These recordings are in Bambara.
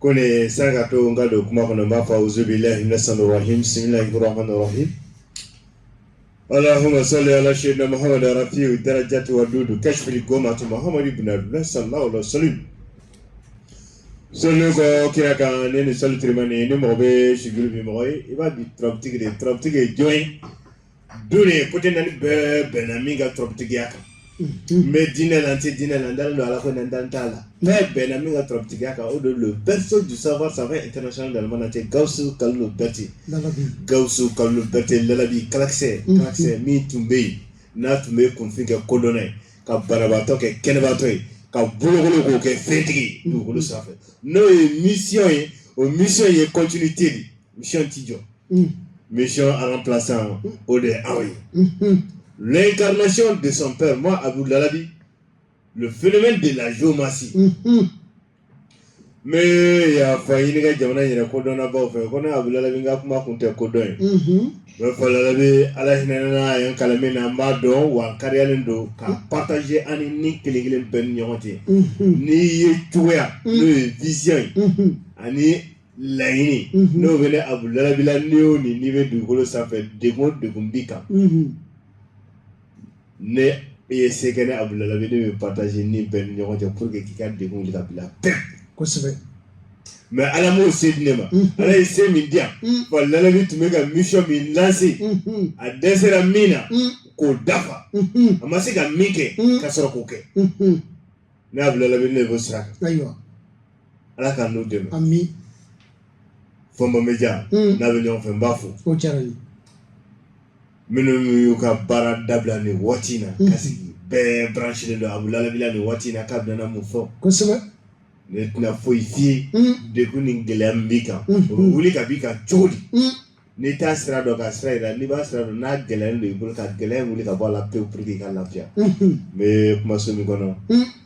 Ko nin saraka ka to n ka don kuma kɔnɔ n b'a fɔ zbi la hinɛ san hmla kura kɔnɔ ala hama sa ala seyɛnɛla mahamadu fiye u taara jawa don don kasri gɔnma tun mahamadu bɛ sa la sali seli kɔ kira kan ne ni salitema ni mɔgɔ bɛ sidi bɛ mɔgɔ i b'a di ttigi de ttigi ye jɔn ye duniya kote naani bɛɛ bɛnna min ka turabutigiya kan n bɛ diinɛ la n tɛ diinɛ la n dalen don ala ko n dalen t'a la bɛɛ bɛnna min ka turabutigiya kan o de le berceau du savoir international dans le monde entier gawusu kalilu bɛrɛte gawusu kalilu bɛrɛte lalabi kalakisɛ kalakisɛ min tun bɛ yen n'a tun bɛ kunfin kɛ kodɔnna ye ka banabaatɔ kɛ kɛnɛbaatɔ ye ka bolokolo k'o kɛ fɛntigi dugukolo sanfɛ n'o ye misiyɔn ye o misiyɔn ye continuité de ye mission tɛ jɔ mission remplaçant o de ye Abou ye l'incarnation de son père moi Abou Lalabi le phénomène de la géomancie n bɛ yafa ɲini n ka jamana in yɛrɛ kodɔnnabaw fɛ ko ne Abou Lalabi n ka kuma kun tɛ kodɔn ye mais n fa Lalabi ala hinɛ na a ye n kalan min na n b'a dɔn wa n kariyalen don ka partager an ni ni kelen kelen bɛɛ ni ɲɔgɔn cɛ ni yecogoya n'o ye vision ye ani laɲini mhm. n'o bɛ ne abu lalabi la ni o ni n'i bɛ dugukolo sanfɛ degun o degun b'i kan mhm. ne ye c'est que ne abu lalabi ne bɛ partage ni bɛɛ ni ɲɔgɔn cɛ pour que k'i ka degun wuli ka b'i la pewu kosɛbɛ mais ala m'o se di ne ma mhm. ala ye se min di yan wa lalabi tun bɛ ka mission min lance a dɛsɛra min na k'o dafa a ma se ka min kɛ ka sɔrɔ k'o kɛ Ne abu lalabi ne b'o sira ayiwa ala k'an n'o dɛmɛ an bi fɔmba media n'an bɛ ɲɔgɔn fɛ n b'a fo o diyara n ye minnu y'u ka baara dabila ni waati in na ka sigi bɛɛ branché don abu lalabi la nin waati in na k'a bɛnana mun fɔ kosɛbɛ ne tɛna foyi fɔ i ye degun ni gɛlɛya min b'i kan o bɛ wuli ka b'i kan cogo di n'i t'a sira dɔn ka sira jira n'i b'a sira dɔn n'a gɛlɛyalen don i bolo ka gɛlɛya in wuli ka bɔ a la pewu pour que i ka lafiya n bɛ kumaso min kɔnɔ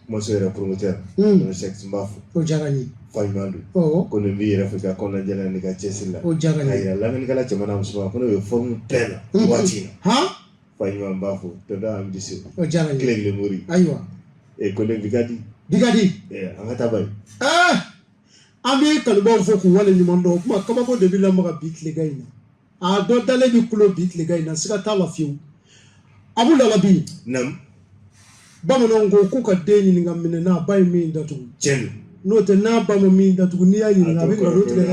kumaso yɛrɛ promoteur Don Sɛki n b'a fo o diyara n ye fa ɲuman don ko ne b'i yɛrɛ fɛ i ka kɔnɔna jɛlenya n'i ka cɛsiri la o diyara n ye k'a jira lamɛnnikɛla cɛman n'a musoman ko ne bɛ forme pleine nin waati in na fa ɲuman n b'a fo tonton Amidu Seku o diyara n ye kile kelen mori ayiwa ee ko ne Bigadi Bigadi an ka taa bani. an bɛ kanubaw fo k'u wale ɲuman dɔn o kuma kabako de bɛ lamaga bi tilegan in na a dɔ dalen bɛ kulo bi tilegan in na siga t'a la fiyewu abu lalabi bamananw ko k'u ka den ɲininka minɛn na a ba ye min datugu tiɲɛ n'o tɛ n'a ba ma min datugu n'i y'a ɲininka a bɛ nkalon tigɛ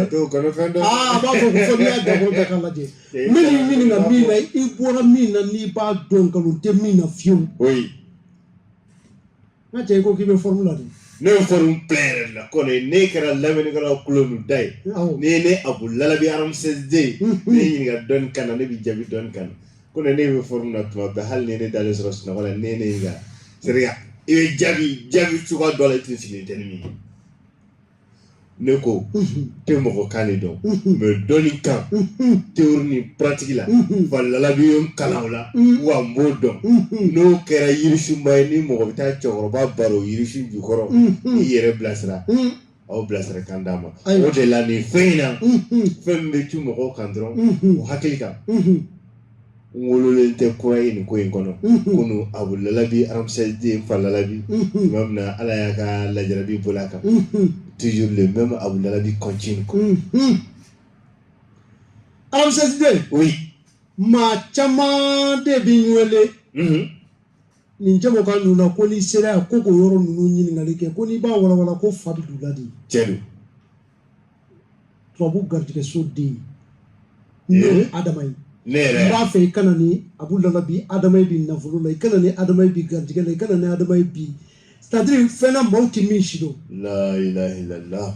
dɛ aa a b'a fɔ ko fɔ n'i y'a dabɔ bɛɛ k'a lajɛ n bɛ n'i ɲininka min na i bɔra min na n'i b'a dɔn nkalon tɛ min na fiyewu N ka cɛ i ko k'i bɛ fɔrmu la de ne ye fɔrmu bila yɛrɛ la kone ne kɛra lamɛnnikɛlaw kɔlɔn da ye ne ye ne abu lalabi ramsès deux ne ye ɲininka dɔnni kan na ne bɛ jaabi dɔnni kan na kone ne bɛ fɔrmu na tuma bɛɛ hali ni ne dalen sɔrɔ sunɔgɔ la ne ne ɲininka se i bɛ jaabi jaabi cogoya dɔ la i tɛ sigi tɛ min ye ne ko tɛ mɔgɔ kan de dɔn mais dɔnni kan théorie ni pratique la fa lalabi y'o kalan la wa n b'o dɔn n'o kɛra yirisunba ye ni mɔgɔ bɛ taa cɛkɔrɔba baro yirisun jukɔrɔ i yɛrɛ bilasira aw bilasira kan d'a ma o de la nin fɛn in na fɛn min bɛ tu mɔgɔw kan dɔrɔn o hakili kan wololen tɛ kura ye nin ko in kɔnɔ kone abu lalabi ramsès deux n fa lalabi maa min na ala ye kalan jarabi bil'a kan toujours le même abu lalabi continue ramsès deux oui maa caman de bɛ n wele nin jamukan ninnu na ko n'i sera yan ko k'o yɔrɔ ninnu ɲininkali kɛ ko n'i b'a walawala ko fa bɛ don u la de tiɲɛ don tubabu garijɛgɛso den ye ne adama ye ne yɛrɛ n b'a fɛ i ka na ni abu lalabi adama ye bi nafolo la i ka na ni adama ye bi garijɛgɛ la i ka na ni adama ye bi c'est-à-dire fɛn na maaw tɛ min si dɔn la ilaha illallah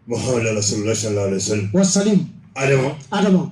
muhammadu rasulullah sallallahu alaihi wasallam wa salim adama adama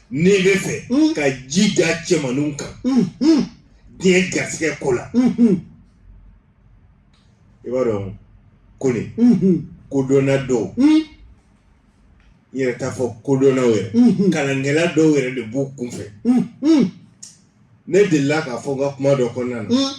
ne b'a fɛ mm. ka ji da cɛmanninw kan mm, mm. diɲɛ garisɛgɛ ko la mm-hmm. i b'a dɔn kone mm-hmm. kodɔnna dɔw n yɛrɛ t'a fɔ kodɔnnaw yɛrɛ mm-hmm. kalankɛla dɔw yɛrɛ de b'u kun fɛ ne delila k'a fɔ n ka kuma dɔ kɔnɔna na mm.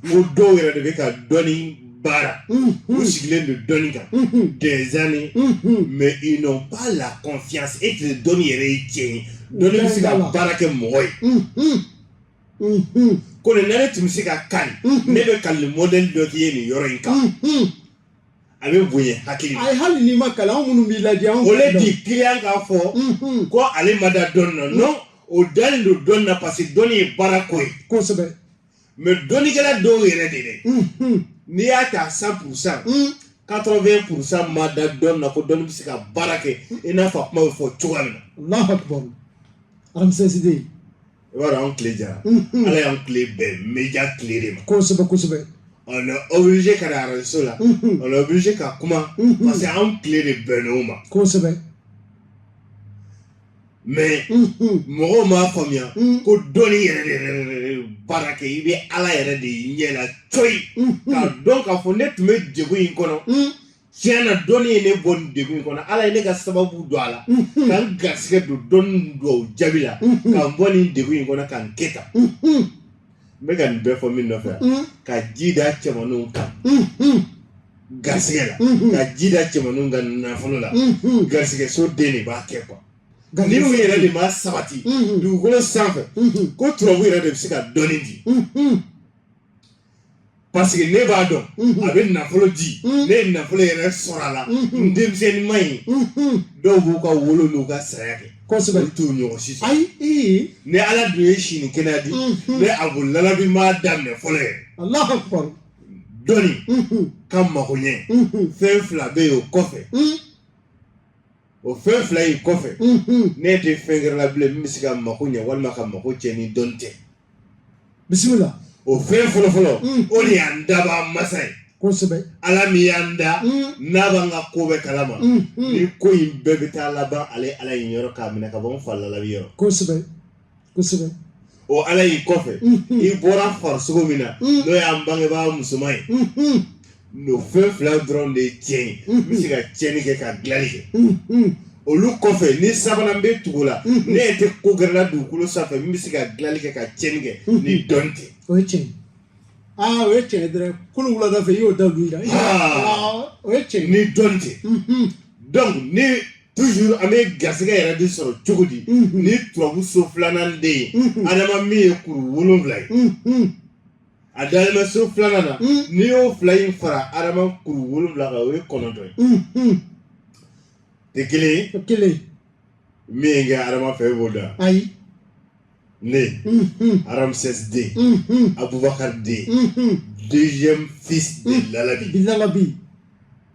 n ko dɔw yɛrɛ de bɛ ka dɔnni baara mm-hmm. u sigilen don dɔnni kan mm-hmm. des années mm-hmm. mais ils n'ont pas la confiance est-ce que dɔnni yɛrɛ ye tiɲɛ ye dɔnni bɛ se ka baara kɛ mɔgɔ ye kone ne tun bɛ se ka kali ne bɛ kalili modèle dɔ k'i ye nin yɔrɔ in kan. a bɛ bonya hakili ma ayi hali n'i ma kalan anw minnu b'i lajɛ anw au lieu de kiliyan k'a fɔ mhm. ko ale ma da dɔnni na non o dalen don dɔnni na parce que dɔnni ye baara k'o ye kosɛbɛ mais dɔnnikɛla dɔw yɛrɛ de dɛ mhm. n'i y'a ta cent pourcent 80 pourcent ma da dɔnni na ko dɔnni bɛ se ka baara kɛ i n'a fɔ a kuma bɛ fɔ cogoya min na alahu akubaru ramsès deux i b'a dɔn an tile diyara ala y'an tile bɛn média tile de ma kosɛbɛ kosɛbɛ on est obligé ka taa arajoso la on est obligé ka kuma parce que an tile de bɛnn'o ma kosɛbɛ mais mɔgɔw m'a faamuya ko dɔnni yɛrɛ de baara kɛ i bɛ ala yɛrɛ de ɲɛ la cogo k'a dɔn k'a fɔ ne tun bɛ jɛgo in kɔnɔ tiɲɛ na dɔnni ye ne bɔ nin degun in kɔnɔ ala ye ne ka sababu don a la ka n garisigɛ don dɔnni dugawu jaabi la ka n bɔ nin degun in kɔnɔ ka n kɛ tan n bɛ ka nin bɛɛ fɔ min nɔfɛ ka ji da cɛmaninw kan garisigɛ la ka ji da cɛmaninw kan nafolo la garisigɛ so den de b'a kɛ quoi ni u yɛrɛ de ma sabati dugukolo sanfɛ ko turabu yɛrɛ de bɛ se ka dɔnni di parce que ne b'a dɔn a bɛ nafolo di ne ye nafolo yɛrɛ sɔrɔ a la n denmisɛnnin ma ye dɔw b'u ka wolo n'u ka saya kɛ kosɛbɛ t'o ɲɔgɔn si sɔrɔ ayi ni ala dun ye si ni kɛnɛya di ne abu lalabi m'a daminɛ fɔlɔ yɛrɛ dɔnni ka mago ɲɛ fɛn fila bɛ yen o kɔfɛ o fɛn fila in kɔfɛ ne tɛ fɛn gɛrɛ la bilen min bɛ se ka mako ɲɛ walima ka mako tiɲɛ ni dɔnni tɛ bisimila o fɛn fɔlɔ fɔlɔ o de y'an dabaa masa ye kosɛbɛ ala min y'an da n'a b'an ka ko bɛɛ kalama ni ko in bɛɛ bɛ taa laban ale ala in yɔrɔ k'a minɛ ka bɔ n fa lalabi yɔrɔ kosɛbɛ kosɛbɛ o ala in kɔfɛ i bɔra farisogo min na n'o y'an bangebaa musoman ye N'o fɛn fila dɔrɔn de ye tiɲɛ ye min bɛ se ka tiɲɛni kɛ ka dilanni kɛ olu kɔfɛ ni sabanan bɛ tugu o la ne yɛrɛ tɛ ko gɛrɛ la dugukolo sanfɛ min bɛ se ka dilanni kɛ ka tiɲɛni kɛ ni dɔnni tɛ o ye tiɲɛ aa o ye tiɲɛ dɔrɔn kolo wulada fɛ i y'o da dugu la o ye tiɲɛ ni dɔnni tɛ donc ni toujours an bɛ garisɛgɛ yɛrɛ de sɔrɔ cogo di ni turabu so filanan de ye adama min ye kuru wolonwula ye a dalen bɛ so filanan na Mm. n'i y'o fila in fara adama kuru wolonwula kan o ye kɔnɔntɔn ye Mm, mm. tɛ kelen ye O kelen min ye kɛ adama fɛ e b'o dɔn ayi ne Mm, mm, ramsès deux mm, mm, abubakar deux mm, mm. deuxième fils de lalabi bilalabi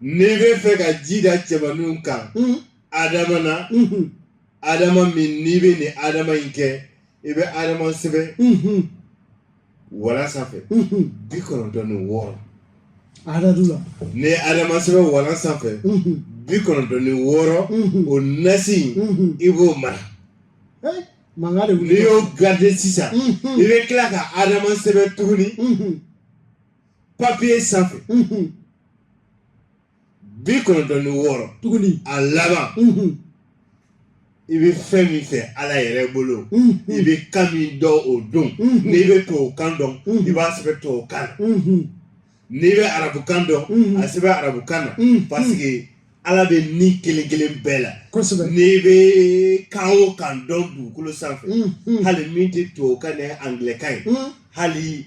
n'i bɛ fɛ ka ji da cɛmaninw kan adama na adama min n'i bɛ nin adama in kɛ i bɛ adama sɛbɛn walan sanfɛ bi kɔnɔntɔn ni wɔɔrɔ adadu la ni adama sɛbɛn walan sanfɛ bi kɔnɔntɔn ni wɔɔrɔ o nasi in i b'o mara mankan de wuli n'i y'o garder sisan i bɛ tila ka adama sɛbɛn tuguni papiye sanfɛ bi kɔnɔntɔn ni wɔɔrɔ tuguni a laban i bɛ fɛn min fɛ ala yɛrɛ bolo i bɛ kan min dɔn o don n'i bɛ tubabu kan dɔn i b'a sɛbɛn tubabu kan na n'i bɛ arabu kan dɔn a sɛbɛn arabu kan na parce que ala bɛ nin kelen kelen bɛɛ la kosɛbɛ n'i bɛ kan o kan dɔn dugukolo sanfɛ hali min tɛ tubabu kan ni angilɛkan ye hali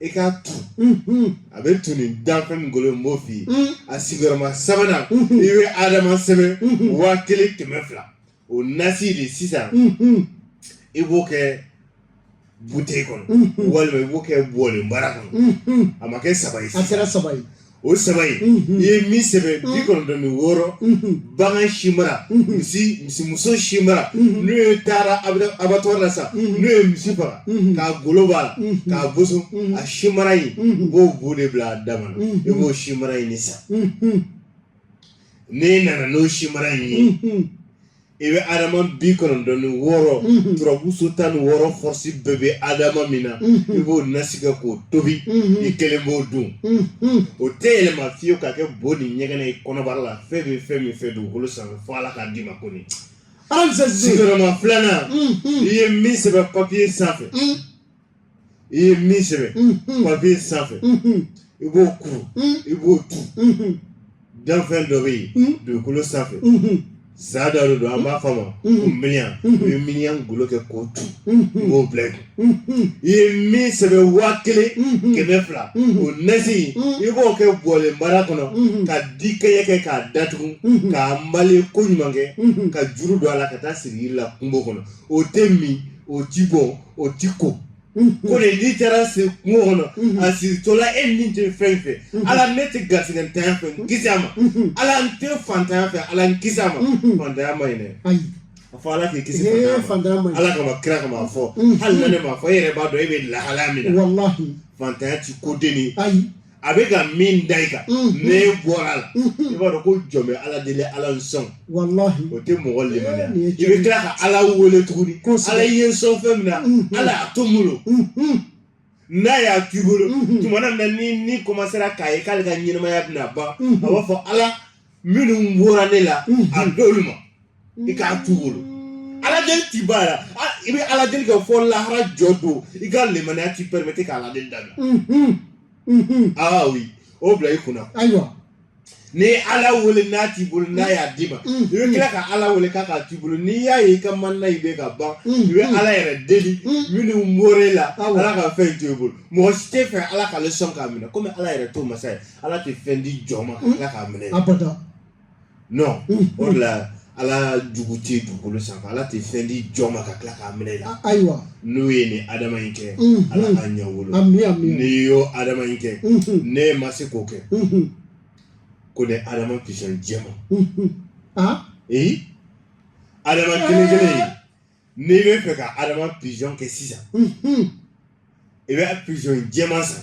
i k'a tu a bɛ tu nin danfɛn min golo n b'o f'i ye a sigiyɔrɔma sabanan i bɛ adama sɛbɛn waa kelen kɛmɛ fila o nasi de sisan i b'o kɛ buteli kɔnɔ walima i b'o kɛ bɔlenbara kɔnɔ a ma kɛ saba ye a kɛra saba ye o saba ye i ye min sɛbɛn bi kɔnɔntɔn ni wɔɔrɔ bagan si mara misi misimuso si mara n'o ye taara abatɔri la sa n'u ye misi faga k'a golo b'a la k'a boso a si mara in u b'o bɔ de bila a dama na i b'o si mara in de san n'i nana n'o si mara in ye i bɛ adama bi kɔnɔntɔn ni wɔɔrɔ mhm. turabu so tan ni wɔɔrɔ fɔrɔsi bɛɛ bɛ adama min na mhm. i b'o nasi kɛ k'o tobi mhm. i kelen b'o dun o tɛ yɛlɛma fiyewu ka kɛ bo ni ɲɛgɛnɛ ye kɔnɔbara la fɛn bɛ fɛn min fɛ dugukolo sanfɛ fo ala k'a d'i ma ko nin sigiyɔrɔma filanan i ye min sɛbɛn papiye sanfɛ i ye min sɛbɛn papiye sanfɛ i b'o kuru i b'o tu danfɛn dɔ bɛ yen dugukolo sanfɛ sa dɔ de don an b'a fɔ a ma ko miniyan i bɛ miniyan golo kɛ k'o tu i b'o bila i kun i ye min sɛbɛn waa kelen kɛmɛ fila o nasi i b'o kɛ bɔlenbara kɔnɔ ka dikɛɲɛ kɛ k'a datugu k'a male koɲuman kɛ ka juru don a la ka taa siri yiri la kungo kɔnɔ o tɛ min o ti bɔn o ti ko ko de n'i taara se kungo kɔnɔ a siritɔla e ni tɛ fɛn fɛ ala ne tɛ garisɛgɛntanya fɛ n kisi a ma ala n tɛ fantanya fɛ ala n kisi a ma fantanya ma ɲi dɛ ayi a fɔ ala k'i kisi ee fantanya ma fantanya ma ɲi ala kama kira kama a fɔ hali na ne m'a fɔ e yɛrɛ b'a dɔn e bɛ lahalaya min na walahi fantanya ti ko denni ayi a bɛ ka min da i kan ne bɔra a la i b'a dɔn ko jɔn bɛ ala deli ala n sɔn o tɛ mɔgɔ lemaniya i bɛ tila ka ala wele tuguni ala ye n sɔn fɛn min na ala y'a to n bolo n'a y'a k'i bolo tuma na ni ni kɔmansera k'a ye k'ale ka ɲɛnamaya bɛna ban a b'a fɔ ala minnu bɔra ne la a d'olu ma i k'a t'u bolo aladeli ti bila i bɛ aladeli kɛ fo lahara jɔ don i ka lemaniya t'i pɛrɛmɛti ka aladeli dabila aa oui o bila i kunna ayiwa ni ala wele n'a t'i bolo n'a y'a d'i ma i bɛ tila ka ala wele k'a k'a t'i bolo n'i y'a ye i ka manina i bɛ ka ban i bɛ ala yɛrɛ deli minnu bɔra e la ala ka fɛn to i bolo mɔgɔ si t'a fɛ ala k'ale sɔn k'a minɛ komi ala yɛrɛ t'o masa ye ala tɛ fɛn di jɔn ma ka tila k'a minɛ abada non Mm. o de la ala jugu tɛ dugukolo sanfɛ ala tɛ fɛn di jɔn ma ka tila k'a minɛ i la A- ayiwa n'u ye nin adama in kɛ Mhm. ala k'a ɲɛ u bolo ami ami n'i y'o adama in kɛ Mhm, ne ma se k'o kɛ mhm, ko ne adama pizɔn jɛman mhm. ah ee adama kelen kelen in n'i bɛ fɛ ka adama pigeon kɛ sisan i bɛ pigeon jɛman san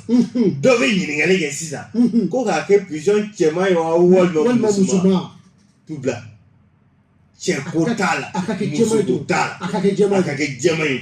dɔ bɛ ɲininkali kɛ sisan ko k'a kɛ pigeon cɛman ye wa walima musoman tout blanc cɛ ko t'a la muso ko t'a la a ka kɛ jɛman ye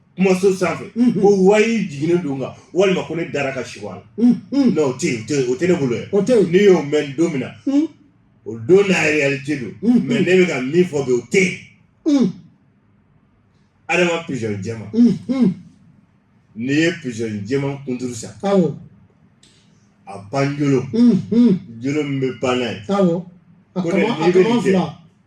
kumaso sanfɛ ko wayi jiginnen don n kan walima ko ne dara ka sigo a la non o tɛ yen o tɛ yen o tɛ ne bolo yan o tɛ yen n'i y'o mɛn don min na o don na réalité don mais ne bɛ ka min fɔ bi o tɛ yen adama pigeon jɛman n'i ye pigeon jɛman kunturu san awɔ a panjolo jolo min bɛ pan n'a ye awɔ a ko ne kama a n'i bɛ kaman nin kɛ fila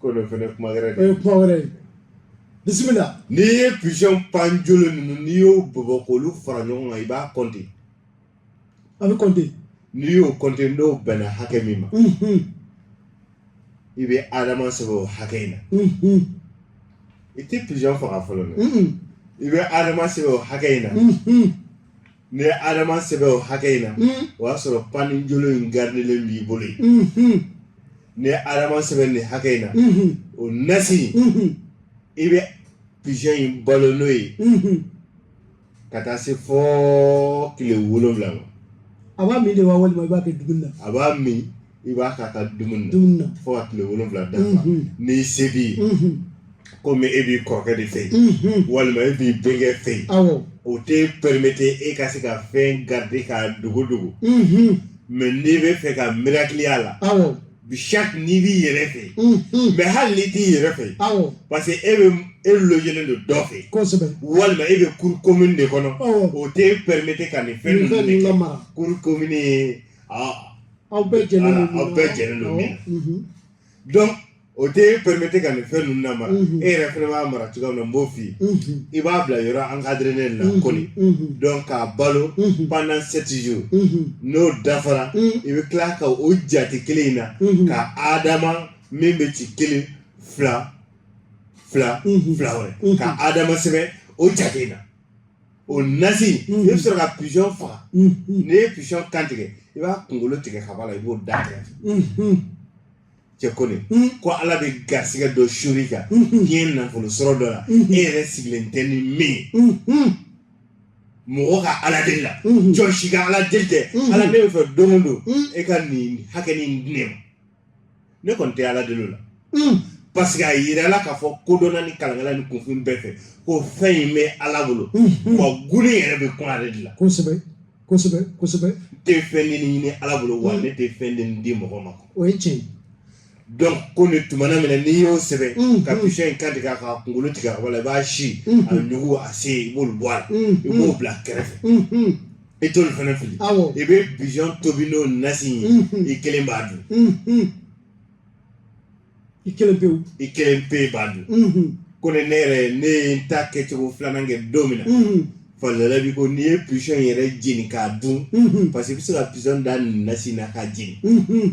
ko dɔ fana kuma wɛrɛ o ye kuma wɛrɛ ye bisimila n'i ye pigeon panjolo ninnu n'i y'o bɔbɔ k'olu fara ɲɔgɔn kan i b'a kɔnte a bɛ kɔnte n'i y'o kɔnte n'o bɛnna hakɛ min ma i bɛ adama sɛbɛn o hakɛ in na i tɛ pigeon faga fɔlɔ dɛ i bɛ adama sɛbɛn o hakɛ in na N'i ye Adama sɛbɛn o hakɛ in na, unhun, o y'a sɔrɔ panjolo in garidelen b'i bolo yen, unhun, n'i ye Adama sɛbɛn nin hakɛ in na, unhun, o nasi in, unhun, i bɛ pigeon in balo n'o ye, unhun, ka taa se fo tile wolonwula ma, a b'a min de wa walima i b'a kɛ dumuni na? A b'a min. i b'a k'a ka dumuni dumuni na fo ka tile wolonwula dafa n'i se b'i ye komi e b'i kɔrɔkɛ de fɛ yen walima e b'i denkɛ fɛ yen awɔ o tɛ permettre e ka se ka fɛn garder k'a dogo dogo mais n'i bɛ fɛ ka miracle a la awɔ bi chaque n'i b'i yɛrɛ fɛ yen mais hali n'i t'i yɛrɛ fɛ yen awɔ parce que e bɛ e logélen don dɔ fɛ yen kosɛbɛ walima e bɛ cour commune de kɔnɔ awɔ o tɛ permettre ka nin fɛn nin ninnu fɛn de ninnu kɛ lamara cour commune ye a aw bɛɛ jɛlen don aw bɛɛ jɛlen don min na donc o tɛ e permettre ka nin fɛn ninnu lamara e yɛrɛ fɛnɛ b'a mara cogoya min na n b'o f'i ye i b'a bila yɔrɔ encadrélen na kɔni donc k'a balo pendant sept jours n'o dafara i bɛ tila ka o jate kelen in na ka adama min bɛ ci kelen fila fila fila wɛrɛ ka adama sɛbɛn o jate in na o nasi i bɛ sɔrɔ ka pigeon faga n'i ye pigeon kan tigɛ i b'a kunkolo tigɛ ka bɔ a la i b'o da tigɛ cɛ ko ne ko ala bɛ garisɛgɛ dɔ suuru i kan diɲɛ nafolo sɔrɔ dɔ la e yɛrɛ sigilen tɛ ni min ye mɔgɔ ka ala deli la jɔn si ka ala deli tɛ ala ne bɛ fɛ don o don e ka nin hakɛ nin di ne ma ne kɔni tɛ ala deli o la parce que a yirala k'a fɔ kodɔnna ni kalankɛla ni kunfin bɛɛ fɛ ko fɛn in bɛ ala bolo wa g yɛrɛ bɛ kun ale de la kosɛbɛ kosɛbɛ kosɛbɛ tɛ fɛn ni ɲini ala bolo wa ne tɛ fɛn den di mɔgɔ ma o ye tiɲɛ donc ko ne tumana min na n'i y'o sɛbɛn ka pigeon in kan tigɛ k'a kunkolo tigɛ a wala i b'a si a nugu a sen i b'olu bɔ a la i b'o bila kɛrɛfɛ i t'olu fana fili awɔ i bɛ pigeon tobi n'o nasi ye Mhm. i kelen b'a dun Mhm. i kelen pewu i kelen pe b'a dun Mhm. ko ne ne yɛrɛ ne ye n ta kɛcogo filanan kɛ don min na Mhm. falala bi ko n'i ye pigeon yɛrɛ jeni k'a dun Mhm. parce que i bɛ se ka pigeon da nin nasi na k'a jeni Mhm.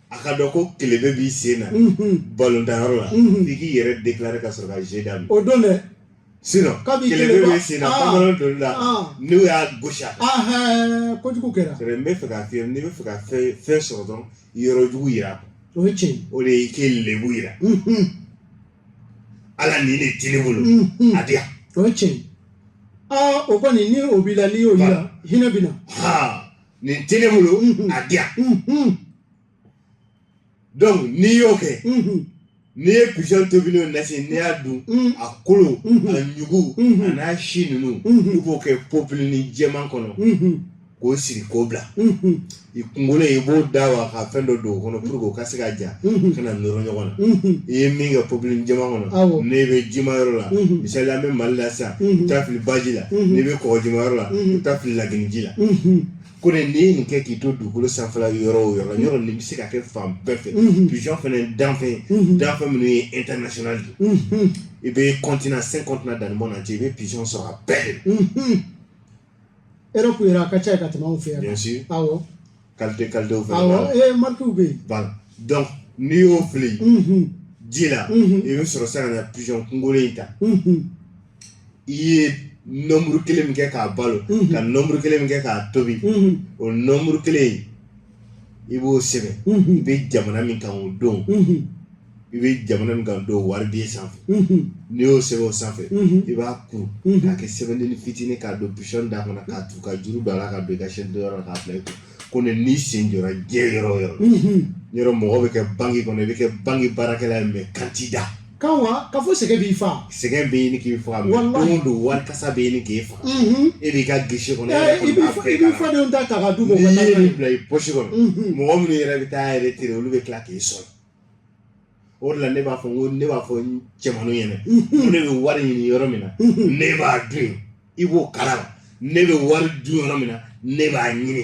a ka dɔn ko kelebe b'i sen na balontanyɔrɔ la f'i k'i yɛrɛ déclarer ka sɔrɔ ka jeu daminɛ o don dɛ sinon kelebe b'i sen na pantalon donni la n'u y'a gosi a kan kojugu kɛra c'est vrai n bɛ fɛ k'a f'i ye n'i bɛ fɛ ka fɛn fɛn sɔrɔ dɔrɔn yɔrɔ jugu yira o ye tiɲɛ ye o de ye i k'i lebu yira ala nin de tɛ ne bolo a di yan o ye tiɲɛ ye o kɔni ni o b'i la n'i y'o yira hinɛ bɛ na nin tɛ ne bolo a di yan donc n'i y'o kɛ n'i ye pigeon tobi n'o nasi n'i y'a dun a kolo a nugu a n'a si ninnu i b'o kɛ popilini jɛman kɔnɔ k'o siri k'o bila i kunkolo i b'o da wa ka fɛn dɔ don o kɔnɔ pour que o ka se ka ja kana nɔrɔ ɲɔgɔn na i ye min kɛ popilini jɛman kɔnɔ n'i bɛ jima yɔrɔ la misali an bɛ mali la sisan i taa fili baji la n'i bɛ kɔgɔjima yɔrɔ la i taa fili lagini ji la ko ne n'i ye nin kɛ k'i to dugukolo sanfɛla yɔrɔ o yɔrɔ yɔrɔ nin bɛ se ka kɛ fan bɛɛ fɛ pigeon fana danfɛn danfɛn minnu ye international de i bɛ continent cinq continents dans le monde entier i bɛ pigeon sɔrɔ a bɛɛ de Europe yɛrɛ a ka ca yen ka tɛmɛ anw fɛ yan bien sûr awɔ qualité qualitéw fɛnɛ b'a awɔ la ee marquew bɛ yen voilà donc n'i y'o fili unhun ji la Mhm. i bɛ sɔrɔ sa ka na pigeon kunkolo in ta unhun i ye nombre 1 min kɛ k'a balo Mhm. ka nombre 1 min kɛ k'a tobi unhun o nombre 1 in i b'o sɛbɛn i bɛ jamana min kan o don i bɛ jamana min kan don wari den sanfɛ n'i y'o sɛbɛn o sanfɛ i b'a kuru k'a kɛ sɛbɛnden fitinin k'a don pigeon da kɔnɔ k'a tu ka juru don a la ka don i ka chaîne yɔrɔ la k'a bila i kun ko ne n'i sen jɔra diɲɛ yɔrɔ o yɔrɔ yɔrɔ mɔgɔ bɛ kɛ banque kɔnɔ i bɛ kɛ banque baarakɛla ye mais kan t'i da Kan wa k'a fɔ sɛgɛn b'i faa sɛgɛn bɛ ɲini k'i faa don o don wari kasa bɛ ɲini k'i faa e b'i ka guichet kɔnɔ i b'i fadenw ta ta ka du bila i poche kɔnɔ mɔgɔ minnu yɛrɛ bɛ taa retraite olu bɛ tila k'i sɔrɔ o la ne b'a fɔ ko ne b'a fɔ cɛmanw ɲɛna ne bɛ wari ɲini yɔrɔ min na ne b'a dun i b'o kalama ne bɛ wari dun yɔrɔ min na ne b'a ɲini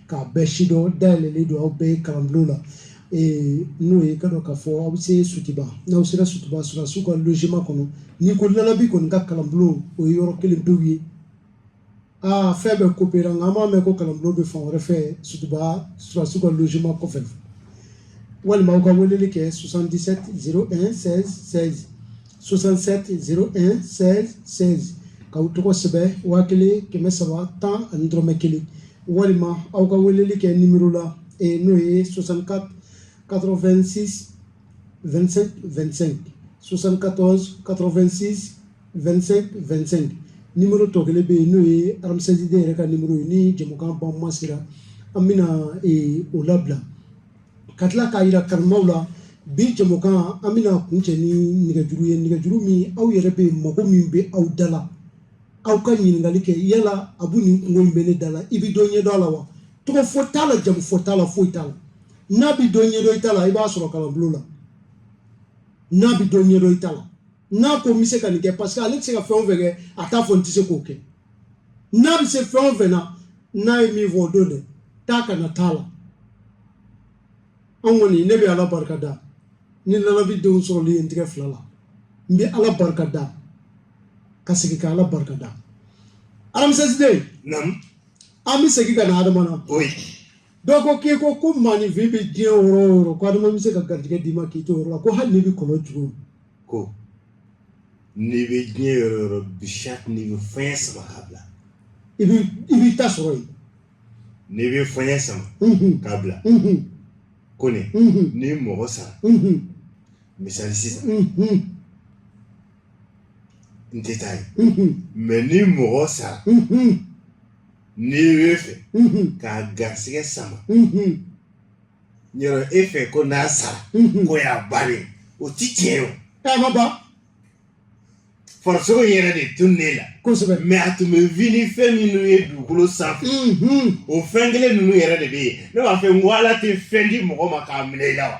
k'a bɛɛ sidɔn dayɛlɛlen don aw bɛɛ ye kalanbulon na n'o ye ka dɔn k'a fɔ aw bɛ se sotuba n'aw sera sotuba sɔrɔsiw ka logement kɔnɔ n'i ko lalabi kɔni ka kalanbulon o ye yɔrɔ kelen pewu ye aa fɛn bɛɛ ko pera nka an b'a mɛn ko kalanbulon bɛ fan wɛrɛ fɛ sotuba sɔrɔsiw ka logement kɔfɛ walima aw ka weleli kɛ 77 01 16 16 67 01 16 16 k'aw tɔgɔ sɛbɛn waa kelen kɛmɛ saba tan ani dɔrɔmɛ kelen walima aw ka weleli kɛ nimero la eh, n'o ye 64 86 25 25 74 86 25 25 nimero tɔ kelen bɛ yen n'o ye aramisɛsiden yɛrɛ ka nimero ye ni jɛmukan ban ma sera an bɛna eh, o labila ka tila k'a yira kanubaw la bi jɛmukan an bɛna kuncɛ ni nɛgɛjuru ye nɛgɛjuru min aw yɛrɛ bɛ mago min bɛ aw da la aw ka ɲininkali kɛ yala abu nin kunko in bɛ ne da la i bɛ dɔ ɲɛdɔn a la wa tɔgɔ fɔ t'a la jamu fɔ t'a la foyi t'a la n'a bɛ dɔ ɲɛdɔn i ta la i b'a sɔrɔ kalanbulon la n'a bɛ dɔ ɲɛdɔn i ta la n'a ko n bɛ se ka nin kɛ parce que ale tɛ se ka fɛn o fɛn kɛ a t'a fɔ n tɛ se k'o kɛ n'a bɛ se fɛn o fɛn na n'a ye min fɔ o don dɛ taa ka na t'a la an kɔni ne bɛ ala barika da ni lalabi denw sɔrɔli ye n tigɛ fila la n bɛ ala barika da ka segin ka ala barika da aramisɛsiden an bɛ segin ka na adama na dɔw ko k'i ko ko maaninfin bɛ diɲɛ yɔrɔ o yɔrɔ ko adama bɛ se ka garijɛgɛ d'i ma k'i to o yɔrɔ la ko hali n'i bɛ kɔlɔn jugu ko n'i bɛ diɲɛ yɔrɔ o yɔrɔ bi sati n'i bɛ fɛn sama k'a bila i bɛ i b'i ta sɔrɔ yen n'i bɛ fɛn sama k'a bila ko nin ni mɔgɔ sara misali sisan n tɛ taa yen mais ni mɔgɔ sara n'i bɛ fɛ k'a garisɛgɛ sama yɔrɔ e fɛ ko n'a sara k'o y'a bannen ye o tɛ tiɲɛ ye a ma ban farisogo yɛrɛ de tunna i la kosɛbɛ mais a tun bɛ vi ni fɛn minnu ye dugukolo sanfɛ o fɛn kelen ninnu yɛrɛ de bɛ yen ne b'a fɛ n ko ala tɛ fɛn di mɔgɔ ma k'a minɛ i la wa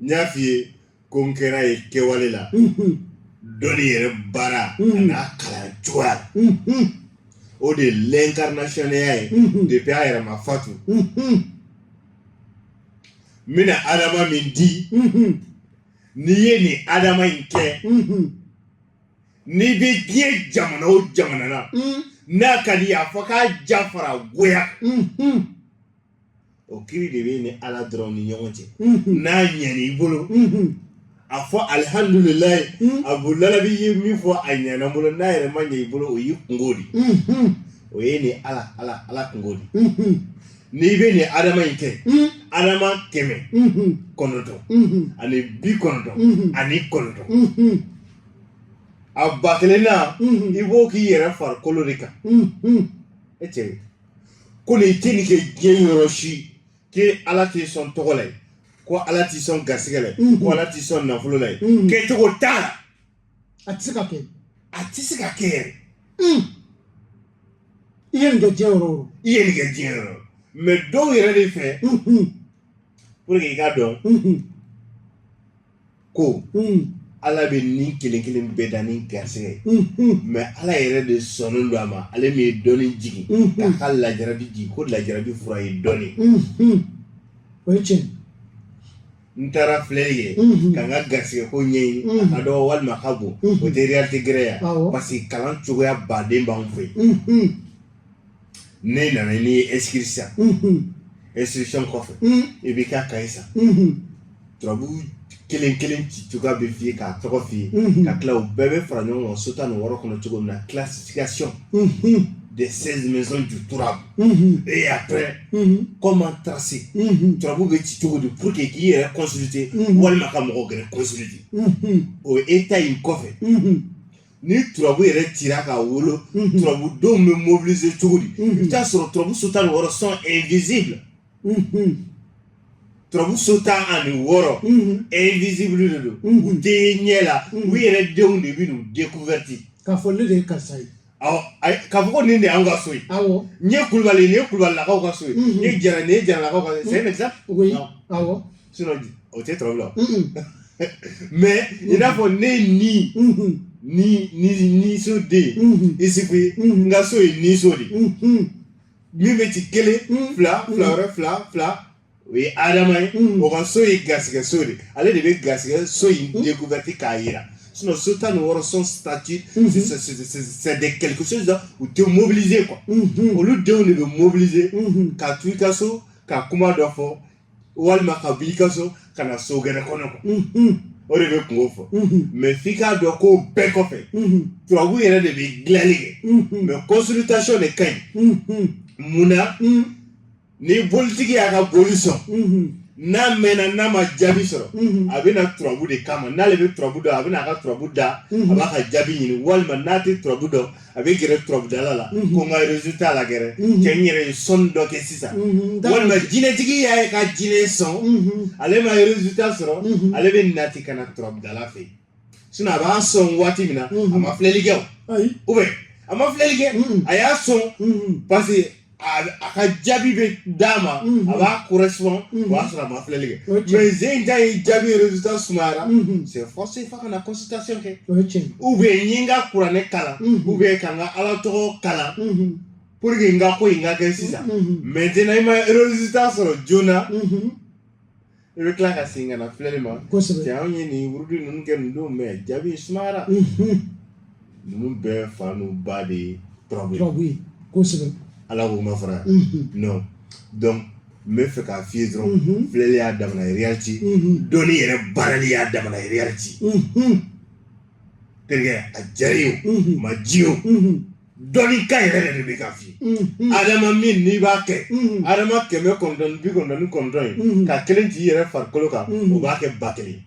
n y'a f'i ye ko n kɛra ye kɛwale la dɔnni yɛrɛ baara an'a kalan cogoya o de ye l'incarnationya ye depuis a yɛrɛ ma fatu n bɛna adama min di n'i ye nin adama in kɛ n'i bɛ diɲɛ jamana o jamana na n'a ka di i ye a fɔ k'a jafara goya o kiri de bɛ ni ala dɔrɔn ni ɲɔgɔn cɛ n'a ɲɛna i bolo a fɔ alihamdulilayi rabil alami i ye min fɔ a ɲɛna bolo n'a yɛrɛ ma ɲɛ i bolo o y'i kunko de o ye ni ala ala kunko de n'i bɛ nin adama in kɛ adama kɛmɛ kɔnɔntɔn ani bi kɔnɔntɔn ani kɔnɔntɔn a ba kelen na i b'o k'i yɛrɛ farikolo de kan e cɛ ko nin tɛ nin kɛ diɲɛ yɔrɔ si k'e ala tɛ sɔn tɔgɔ la ye ko ala tɛ sɔn garisɛgɛ la ye ko ala tɛ sɔn nafolo la ye kɛcogo t'a la a tɛ se ka kɛ a tɛ se ka kɛ yɛrɛ i ye nin kɛ diɲɛ yɔrɔ o i ye nin kɛ diɲɛ yɔrɔ mais dɔw yɛrɛ de fɛ pour que i k'a dɔn ko ala bɛ ni kelen kelen bɛɛ dan ni garisɛgɛ ye mais ala yɛrɛ de sɔnnen don a ma ale min ye dɔnni jigin k'a ka lajarabi jigin ko lajarabi fura ye dɔnni o ye tiɲɛ n taara filɛli kɛ ka n ka garisɛgɛ ko ɲɛɲini a ka dɔgɔ walima a ka bon o tɛ réalité gɛrɛ ye parce que kalan cogoya baden b'an fɛ yen n'e nana n'i ye inscrit sisan inscription kɔfɛ i b'i ka kaye san turabu kelen kelen ci cogoya bɛ f'i ye k'a tɔgɔ f'i ye ka tila u bɛɛ bɛ fara ɲɔgɔn kan so tan ni wɔɔrɔ kɔnɔ cogo min na classification des seize maisons du turabu et après comment tracer turabu bɛ ci cogo di pour que k'i yɛrɛ consulter walima ka mɔgɔ gɛrɛ consulter o étape in kɔfɛ ni turabu yɛrɛ cira ka wolo mhm. turabu denw bɛ mobiliser cogo di mhm. i bɛ taa sɔrɔ turabu so tan ni wɔɔrɔ sont invisibles mhm. turabu so tan ani wɔɔrɔ invisible de don u tɛ ye ɲɛ la u yɛrɛ denw de bɛ n'u découverte k'a fɔ ne de ye karisa ye awɔ k'a fɔ ko nin de y'anw ka so ye awɔ nin ye kulubali nin ye kulubalilakaw ka so ye nin ye jara nin ye jaralakaw ka so ye c'est un exemple awɔ o tɛ turabu la mais i n'a fɔ ne ni ni ni nin so de isufu ka so ye nin so de min bɛ ci kelen fila fila wɛrɛ fila fila o ye adama ye o ka so ye garisɛgɛ so de ale de bɛ garisɛgɛ so in découverte k'a jira sinon so tan ni wɔɔrɔ son statut c'est de quelque chose u tɛ mobiliser quoi olu denw de bɛ mobiliser ka to i ka so ka kuma dɔ fɔ walima ka b'i ka so ka na so gɛrɛ kɔnɔ quoi o de bɛ kunko fɔ mais f'i k'a dɔn ko bɛɛ kɔfɛ turabu yɛrɛ de bɛ dilanni kɛ mais consultation de ka ɲi mun na ni bolitigi y'a ka boli sɔn n'a mɛnna n'a ma jaabi sɔrɔ a bɛ na turabu de kama n'ale bɛ turabu dɔn a bɛ n'a ka turabu da a b'a ka jaabi ɲini walima n'a tɛ turabu dɔn a bɛ gɛrɛ turabudala la ko n ka résultat lagɛrɛ cɛ n yɛrɛ ye sɔnni dɔ kɛ sisan walima jinɛtigi y'a ye ka jinɛ sɔn ale ma résultat sɔrɔ ale bɛ nati ka na turabudala fɛ sinon a b'a sɔn waati min na a ma filɛli kɛ o ou bien a ma filɛli kɛ a y'a sɔn parce a ka jaabi bɛ d'a ma a b'a correspond o b'a sɔrɔ a ma filɛli kɛ mais ze in ta ye jaabi résultat sumayara c'est forcé f'a ka na consultation kɛ ou bien n ye n ka kuranɛ kalan ou bien ka n ka ala tɔgɔ kalan pour que n ka ko in ka kɛ sisan maintenant i ma résultat sɔrɔ joona I bɛ tila ka segin ka na filɛli ma cɛ anw ye nin wurudi ninnu kɛ nin don mais jaabi sumara ninnu bɛɛ fa n'u ba de ye turabu ye ala k'u ma fara non donc n b'a fɛ k'a f'i ye dɔrɔn filɛli y'a damana ye réalité dɔnni yɛrɛ baarali y'a damana ye réalité terikɛ a jara ye o ma ji o dɔnni ka yɛrɛ yɛrɛ de bɛ k'a f'i ye adama min n'i b'a kɛ adama kɛmɛ kɔnɔntɔn bi kɔnɔntɔn kɔnɔntɔn ye ka kelen t'i yɛrɛ farikolo kan o b'a kɛ ba kelen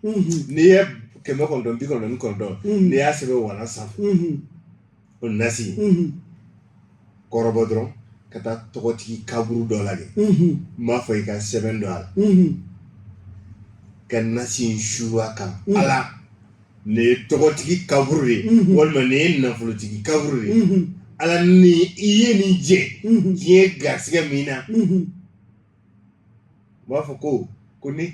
n'i ye kɛmɛ kɔnɔntɔn bi kɔnɔntɔn kɔnɔntɔn n'i y'a sɛbɛn walan sanfɛ o nasi kɔrɔbɔ dɔrɔn ka taa tɔgɔtigi kaburu dɔ la de n b'a fɔ i ka sɛbɛn don a la ka nasi in suru a kan ala nin ye tɔgɔtigi kaburu de ye walima nin ye nafolotigi kaburu de ye ala ni i ye nin jɛ diɲɛ ye garisɛgɛ min na u b'a fɔ ko ko ni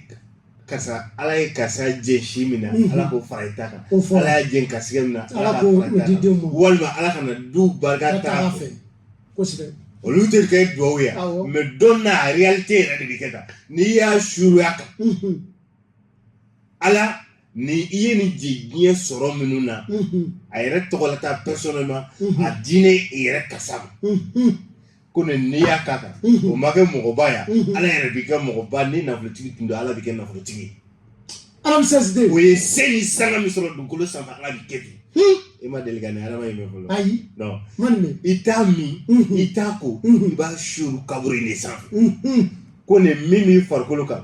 karisa ala ye karisa jɛ si min na ala k'o fara i ta kan ala y'a jɛ garisɛgɛ min na ala k'o di den ma walima ala ka na du barika ta fɛ kosɛbɛ olu tɛ kɛ duwawu ye mais dans la réalité yɛrɛ de bɛ kɛ tan n'i y'a suru a kan ala ni i ye nin jɛ diɲɛ sɔrɔ minnu na a yɛrɛ tɔgɔlata personnellement a diinɛ yɛrɛ kasa ma ko ne n'i y'a k'a kan o ma kɛ mɔgɔba yan ala yɛrɛ b'i kɛ mɔgɔba ni nafolotigi tun don ala b'i kɛ nafolotigi ye o ye se ni sanga min sɔrɔ dugukolo san ala bɛ kɛ i ma deli ni ala in bɛ fɔlɔ ayi i t'a min i t'a ko i b'a suru kaburu de sanfɛ ko nin min b'i farikolo kan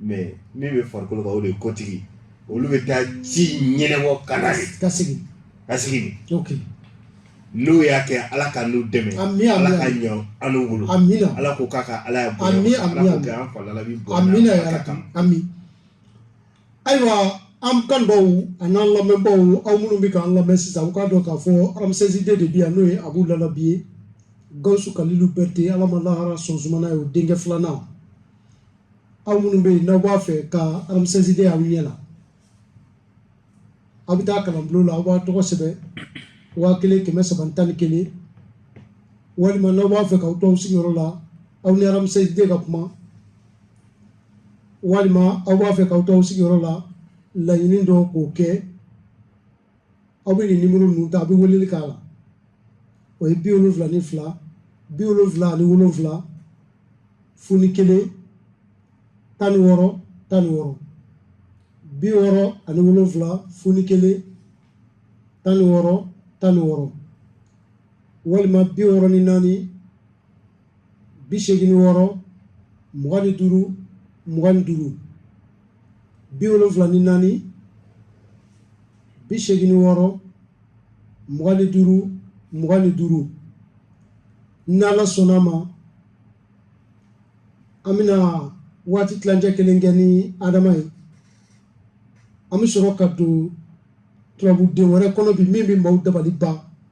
mais min bɛ farikolo kan o de ye kotigi olu bɛ taa ci ɲɛnabɔ ka ka sigi ka sigi n'o y'a kɛ ala k'anw dɛmɛ ala k'a ɲɛ an bolo ala ko k'a ka ala ayiwa an kanbaw ani n'an lamɛnbaw aw minnu bɛ k'an lamɛn sisan u k'a dɔn k'a fɔ aramusɛsiden de bi yan n'o ye abu lalabi ye gawusu kalilu bɛrɛte ala ma lahara sɔn sumana ye o denkɛ filanan aw minnu bɛ yen n'aw b'a fɛ ka aramisɛsiden y'aw ɲɛ la aw bɛ taa kalanbulon la aw b'a tɔgɔ sɛbɛn waa kelen kɛmɛ saba tan ni kelen walima n'aw b'a fɛ k'aw to aw sigiyɔrɔ la aw ni aramisɛsiden ka kuma walima aw b'a fɛ k'aw to aw sigiyɔrɔ la laɲini dɔ k'o kɛ aw bɛ nin nimoro ninnu ta a bɛ weleli k'a la o ye bi wolonfila ni fila bi wolonfila ani wolonfila fu ni kelen tan ni wɔɔrɔ tan ni wɔɔrɔ bi wɔɔrɔ ani wolonfila fu ni kelen tan ni wɔɔrɔ tan ni wɔɔrɔ walima bi wɔɔrɔ ni naani bi segin wɔɔrɔ mugan ni duuru mugan ni duuru bi wolonfila ni naani bi segin wɔɔrɔ mugan ni duuru mugan ni duuru n'ala sɔnna a ma an bɛna waati tilancɛ kelen kɛ ni adama ye an bɛ sɔrɔ ka don turabuden wɛrɛ kɔnɔ bi min bɛ maaw dabali ban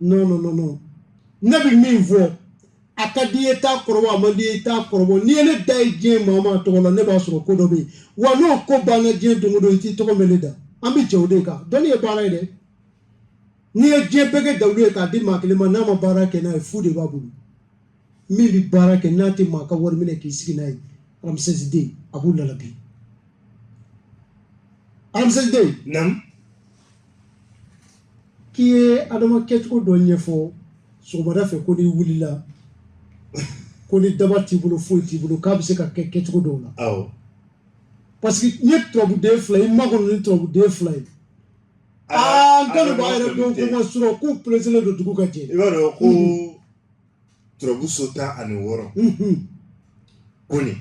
non non non non ne bɛ min fɔ a ka di ye t'a kɔrɔbɔ a man di ye t'a kɔrɔbɔ n'i ye ne da ye diɲɛ maa maa tɔgɔ la ne b'a sɔrɔ ko dɔ bɛ yen wa n'o ko banna diɲɛ don o don i t'i tɔgɔ mɛn ne da an bɛ jɛ o de kan dɔnni ye baara ye dɛ n'i ye diɲɛ bɛɛ kɛ dawula ye k'a di maa kelen ma n'a ma baara kɛ n'a ye fu de b'a bolo min bɛ baara kɛ n'a tɛ maa ka wari minɛ k'i sigi n'a ye aramisɛsiden abu lalabi aramisɛsiden naamu k'i ye adama kɛcogo dɔ ɲɛfɔ sɔgɔmada fɛ ko n'i wulila ko ni daba t'i bolo foyi t'i bolo k'a bɛ se ka kɛ kɛcogo dɔw la awɔ parce que n ye turabuden fila ye n makɔnɔ ni turabuden fila ye aa n kɔni b'a yɛrɛ dɔn ko maaw surɔ k'u pereselen don dugu ka jɛ i b'a dɔn ko turabuso tan ani wɔɔrɔ ko nin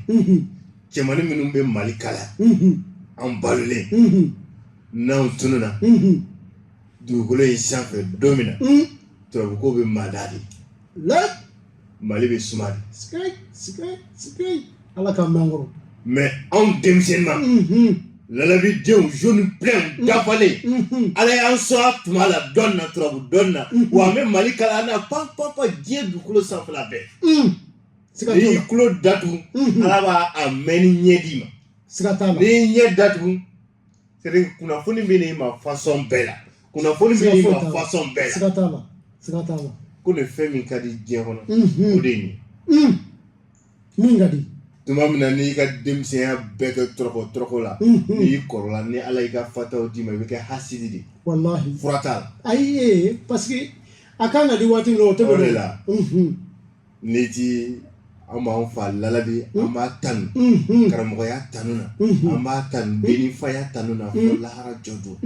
cɛmannin minnu bɛ mali kala an balolen n'anw tununa dugukolo in sanfɛ don min na turabuko bɛ mada de mali bɛ suma de a la k'an ma kɔrɔ mais anw denmisɛnma lalabi denw jeune plein dafalen ala y'an sɔn a tuma la dɔn na turabu dɔn na wa an bɛ mali kala na pan pan pan diɲɛ dukolo sanfɛla bɛɛ n'i y'i tulo datugu ala b'a mɛnni ɲɛ d'i ma siga t'a la n'i y'i ɲɛ datugu kunnafoni bɛ n'i ma fasɔn bɛɛ la kunnafoni bɛ fasɔn bɛɛ la ko de fɛn min ka di diɲɛ kɔnɔ o de ye min ka di tuma min na n'i ka denmisɛnya bɛɛ kɛ tɔrɔkɔ tɔrɔkɔ la n'i kɔrɔla ni ala y'i ka fataw d'i ma i bɛ kɛ hasidi de walahi fura t'a la ayi parce que a kan ka di waati min o tɛ de la n'i ti an b'an fa lalabi an b'a tanu karamɔgɔya tanu na an b'a tanu denifaya tanu na fo lahara jɔ don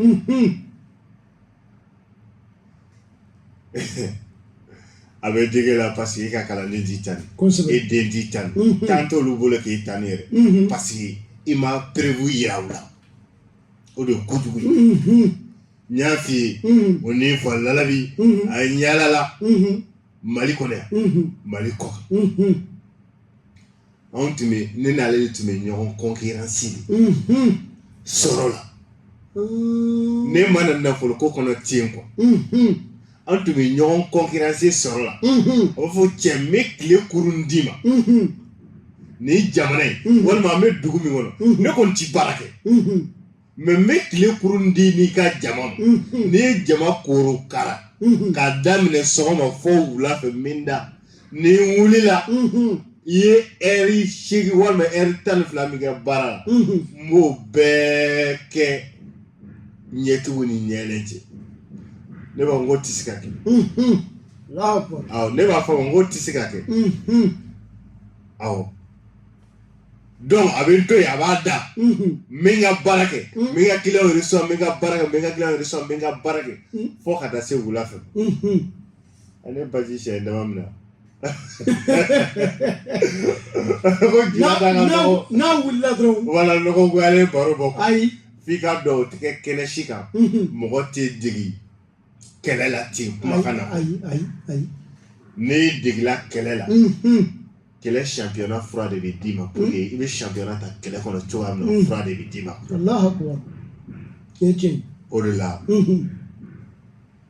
a bɛ dig'i la parce que e ka kalanden t'i tanu e den t'i tanu tan t'olu bolo k'i tanu yɛrɛ parce que i ma preuve jira u la o de ye kojugu ye n y'a f'i ye o ni fa lalabi a yaalala mali kɔnɔ yan mali kɔ anw tun bɛ ne n'ale de tun bɛ ɲɔgɔn concurrence sɔrɔ la ne ma na nafolo ko kɔnɔ ten quoi anw tun bɛ ɲɔgɔn concurrence sɔrɔ la o b'a fɔ cɛ n bɛ tile kurun d'i ma ni jamana ye walima an bɛ dugu min kɔnɔ ne kɔni tɛ baara kɛ mais n bɛ tile kurun d'i n'i ka jama ma n'i ye jama koro kara k'a daminɛ sɔgɔma fo wula fɛ n bɛ n da ni n wulila i ye ɛri seegin walima ɛri tan ni fila min kɛ baara la n b'o bɛɛ kɛ ɲɛtugu ni ɲɛyɛlɛ cɛ ne b'a fɔ n k'o tɛ se ka kɛ ne b'a fɔ n k'o tɛ se ka kɛ aw a bɛ n to yen a b'a da n bɛ n ka baara kɛ n bɛ n ka kiliyanw yɛrɛ sɔrɔ n bɛ n ka baara kɛ n bɛ n ka kiliyanw yɛrɛ sɔrɔ n bɛ n ka baara kɛ fo ka taa se wula fɛ ale baji sɛ dama min na ko juma t'an ka nɔgɔ n'a wulila dɔrɔn wala nɔgɔ goyalen baro bɔ ayi f'i k'a dɔn o tɛ kɛ kɛnɛ si kan mɔgɔ tɛ dege kɛlɛ la ten kumakan na ayi ayi ayi n'i degela kɛlɛ la kɛlɛ championnat fura de bɛ d'i ma pour que i bɛ championnat ta kɛlɛ kɔnɔ cogoya min na fura de bɛ d'i ma o de la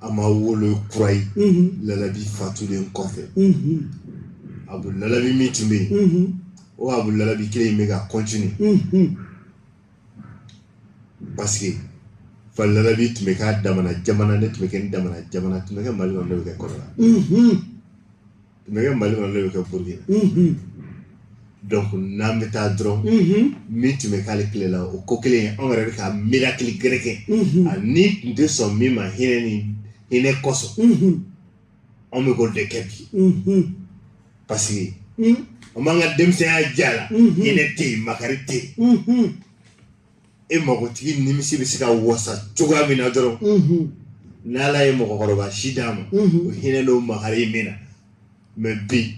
a ma wolo kura ye lalabi fatulen kɔfɛ abu lalabi min tun bɛ yen o abu lalabi kelen in bɛ ka continuer parce que fa lalabi tun bɛ k'a damana jamana ne tun bɛ kɛ n damana jamana tun bɛ kɛ mali kɔnɔ ne bɛ kɛ kodiwari tun bɛ kɛ mali kɔnɔ ne bɛ kɛ burukina donc n'an bɛ taa dɔrɔn min tun bɛ k'ale tile la o ko kelen anw yɛrɛ bɛ ka miracle gɛrɛ kɛ a ni tun tɛ sɔn min ma hinɛ ni hinɛ kosɔn anw bɛ k'o de kɛ bi parce que an b'an ka denmisɛnya diya la hinɛ tɛ yen makari tɛ yen e magotigi nimisi bɛ se ka wasa cogoya min na dɔrɔn n' ala ye mɔgɔkɔrɔba si d'a ma o hinɛ n'o makari bɛ na mais bi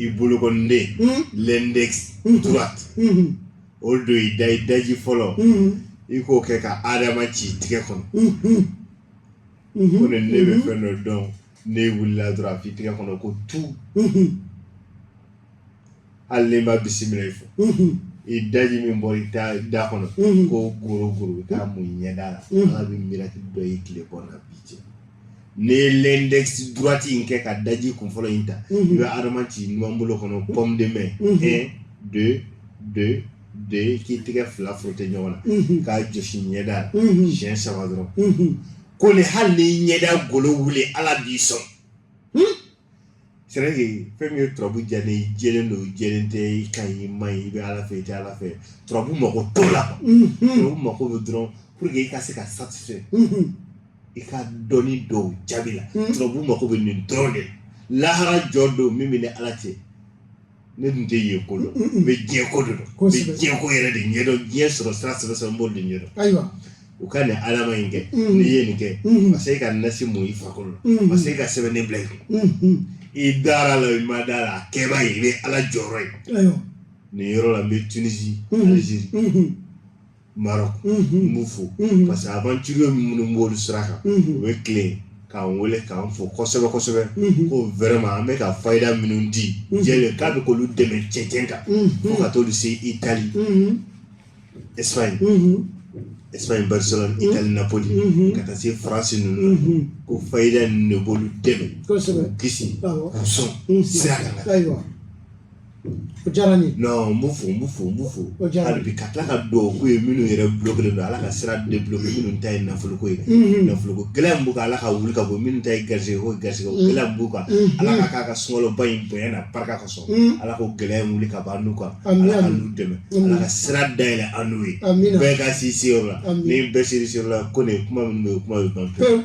i bolokɔniden mm. l'index mm. droite mm-hmm. o don i da i daji fɔlɔ mm-hmm. i k'o kɛ ka adama ci i tigɛ kɔnɔ mm-hmm. ko ne ne bɛ fɛn dɔ dɔn n'i wulila dɔrɔn a f'i tigɛ kɔnɔ ko tu hali n'i ma bisimilayi fɔ i daji min bɔra i da kɔnɔ ko goro goro i k'a mun i ɲɛda la ala bɛ miracle dɔ ye tile kɔnɔ bi cɛ n'i ye l'index droite in kɛ ka daji kun fɔlɔ in ta i bɛ adama ci numan bolo kɔnɔ pomme de main un deux deux deux k'i tɛgɛ fila frotter ɲɔgɔn na k'a jɔsi ɲɛda la siɲɛ saba dɔrɔn ko ni hali n'i ɲɛda golo wuli ala b'i sɔn c'est vrai que fɛn min ye turabu diya ne ye jɛlen don i jɛlen tɛ i ka ɲi i man ɲi i bɛ ala fɛ i tɛ ala fɛ turabu mako t'o la turabu mako bɛ dɔrɔn pour que i ka se ka satisfait i ka dɔnni dɔw jaabi la turabu mako bɛ nin dɔrɔn de la lahara jɔ don min b'i ni ala cɛ ne dun tɛ yen ko dɔn n bɛ diɲɛ ko de dɔn n bɛ Kosɛbɛ. diɲɛ ko yɛrɛ de ɲɛ dɔn diɲɛ sɔrɔ sira sɛbɛ sɛbɛ n b'olu de ɲɛ dɔn ayiwa u ka nin adama in kɛ Mm. n'i ye nin kɛ Mhm. parce que e ka nasi mun i farikolo la Mhm. parce que e ka sɛbɛnni bila i kun Mhm. i dara a la i ma da a la a kɛ i b'a ye i bɛ ala jɔyɔrɔ ye ayiwa nin yɔrɔ la n bɛ Tunisie Mhm. Algérie Mhm. Maroc n b'u fo parce que aventurier minnu b'olu sira kan u bɛ tilen k'an weele k'an fo kosɛbɛ kosɛbɛ ko vraiment an bɛ ka fayida minnu di jɛ k'a bɛ k'olu dɛmɛ cɛncɛn kan fo ka t'olu se Italie Espagne Espagne Barcelone Italie Napoli ka taa se France ninnu na ko fayida ninnu de b'olu dɛmɛ k'u kisi k'u sɔn sira O diyara ye n bɛ fɔ n bɛ fɔ n bɛ fɔ o jaabi bi ka tila ka dugawu k'u ye minnu yɛrɛ bloquerlen don ala ka sira débloquer minnu ta ye nafoloko ye nafoloko gɛlɛya b'u kan ala k'a wuli ka bɔ minnu ta ye garisɛgɛko garisɛgɛ gɛlɛya b'u kan ala ka k'a ka sumaworoba in bonya n'a barika kosɔn ala k'o gɛlɛya wuli ka bɔ an kan dɛmɛ ala ka sira dayɛlɛ an n'u ye bɛɛ ka si seyɔrɔ la n bɛɛ siri seyɔrɔ la ko nin kuma min bɛ kuma ye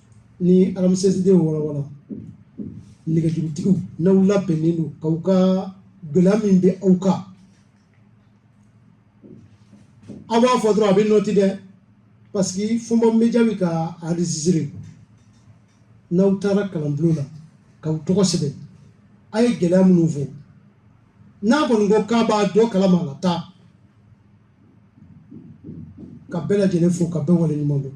ni aramsesidenw wala wala nɛgɛjurutigiw n'aw labɛnnen don k'aw ka gɛlɛya min bɛ aw kan aw b'a fɔ dɔrɔn a bɛ noter dɛ parce que Fɔnba Media bɛ ka enregistrer n'aw taara kalanbulon na k'aw tɔgɔ sɛbɛn aw ye gɛlɛya minnu fɔ n'a kɔni ko k'a b'a dɔ kalama a la taa ka bɛɛ lajɛlen fo ka bɛɛ waleɲuman dɔn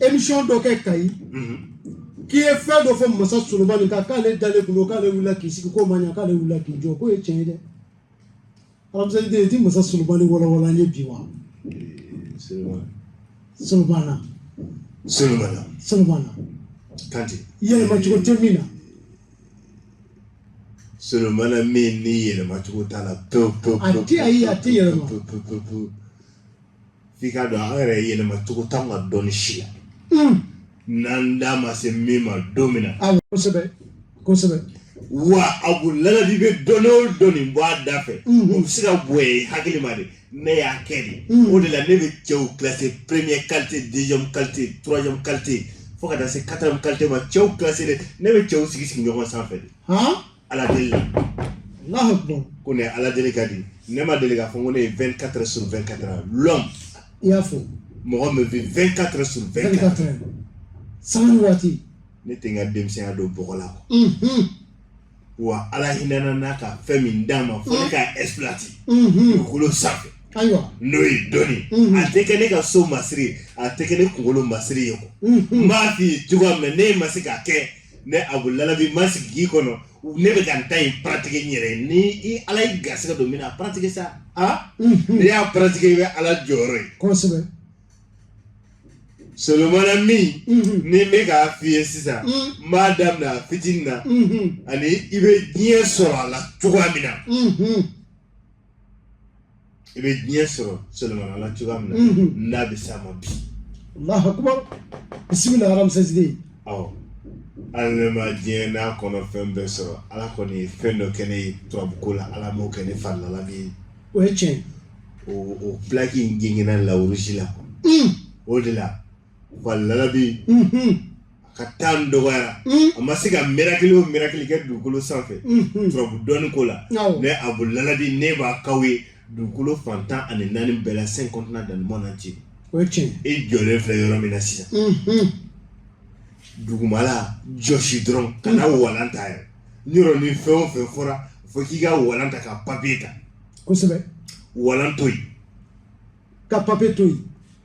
émission dɔ kɛ kayi k'i ye fɛn dɔ fɔ masa solomani kan k'ale dalen kun don k'ale wulila k'i sigi k'o ma ɲa k'ale wulila k'i jɔ k'o ye tiɲɛ ye dɛ ramsès deux i ti masa solomani walawala an ye bi wa solomana solomana solomana kanti yɛlɛma cogo tɛ min na solomana min ni yɛlɛma cogo t'a la pewu pewu a tɛ ayi a tɛ yɛlɛma pewu pewu pewu f'i k'a dɔn an yɛrɛ yɛlɛma cogo t'an ka dɔnni si la n'an da ma se min ma don min na Awɔ kosɛbɛ kosɛbɛ wa abu lalabi bɛ dɔnni o dɔnni bɔ a da fɛ o bɛ se ka bonya i hakili ma de ne y'a kɛ de o de la ne bɛ cɛw classer premier qualité deuxième qualité troisième qualité fo ka taa se quatrième qualité ma cɛw classer de ne bɛ cɛw sigi sigi ɲɔgɔn sanfɛ de han ala deli la ko ne ala deli ka di ne ma deli k'a fɔ ko ne ye 24 sur 24 heures l'homme i y'a fɔ mɔgɔ min bɛ 24 heures sur 24 heures sanga ni waati ne tɛ n ka denmisɛnya don bɔgɔ la wa ala hinɛna n na ka fɛn min di n ma fo ne k'a exploiter dugukolo sanfɛ ayiwa n'o ye dɔnni a tɛ kɛ ne ka so masiri a tɛ kɛ ne kunkolo masiri ye quoi n b'a f'i ye cogoya min na ne ma se k'a kɛ ne abu lalabi ma sigi k'i kɔnɔ ne bɛ ka n ta in pratiquer n yɛrɛ ni ala ye garisɛgɛ don min na a pratiquer sa a n'i y'a pratiquer i bɛ ala jɔyɔrɔ ye kosɛbɛ solomana min ni n bɛ k'a f'i ye sisan n b'a daminɛ a fitinin na ani i bɛ diɲɛ sɔrɔ a la cogoya min na i bɛ diɲɛ sɔrɔ solomana la cogoya min na ne bɛ s'a ma bi allahu akbar bisimila ramsès deux awɔ hali ne ma diɲɛ n'a kɔnɔfɛn bɛɛ sɔrɔ ala kɔni ye fɛn dɔ kɛ ne ye turabuko la ala m'o kɛ ne fa lalabi ye o ye tiɲɛ o o plaque in gengenna la russie la o de la fa lalabi a ka temps dɔgɔyara a ma se ka miracle o miracle kɛ dugukolo sanfɛ turabu dɔnni ko la ne abu lalabi ne b'a k'aw ye dugukolo fan tan ani naani bɛɛ la 5 continents dans le monde entier i jɔlen filɛ yɔrɔ min na sisan dugumala jɔsi dɔrɔn kana walan ta yɛrɛ n yɔrɔ ni fɛn o fɛn fɔra fo k'i ka walan ta ka papier ta kosɛbɛ walan to yen ka papier to yen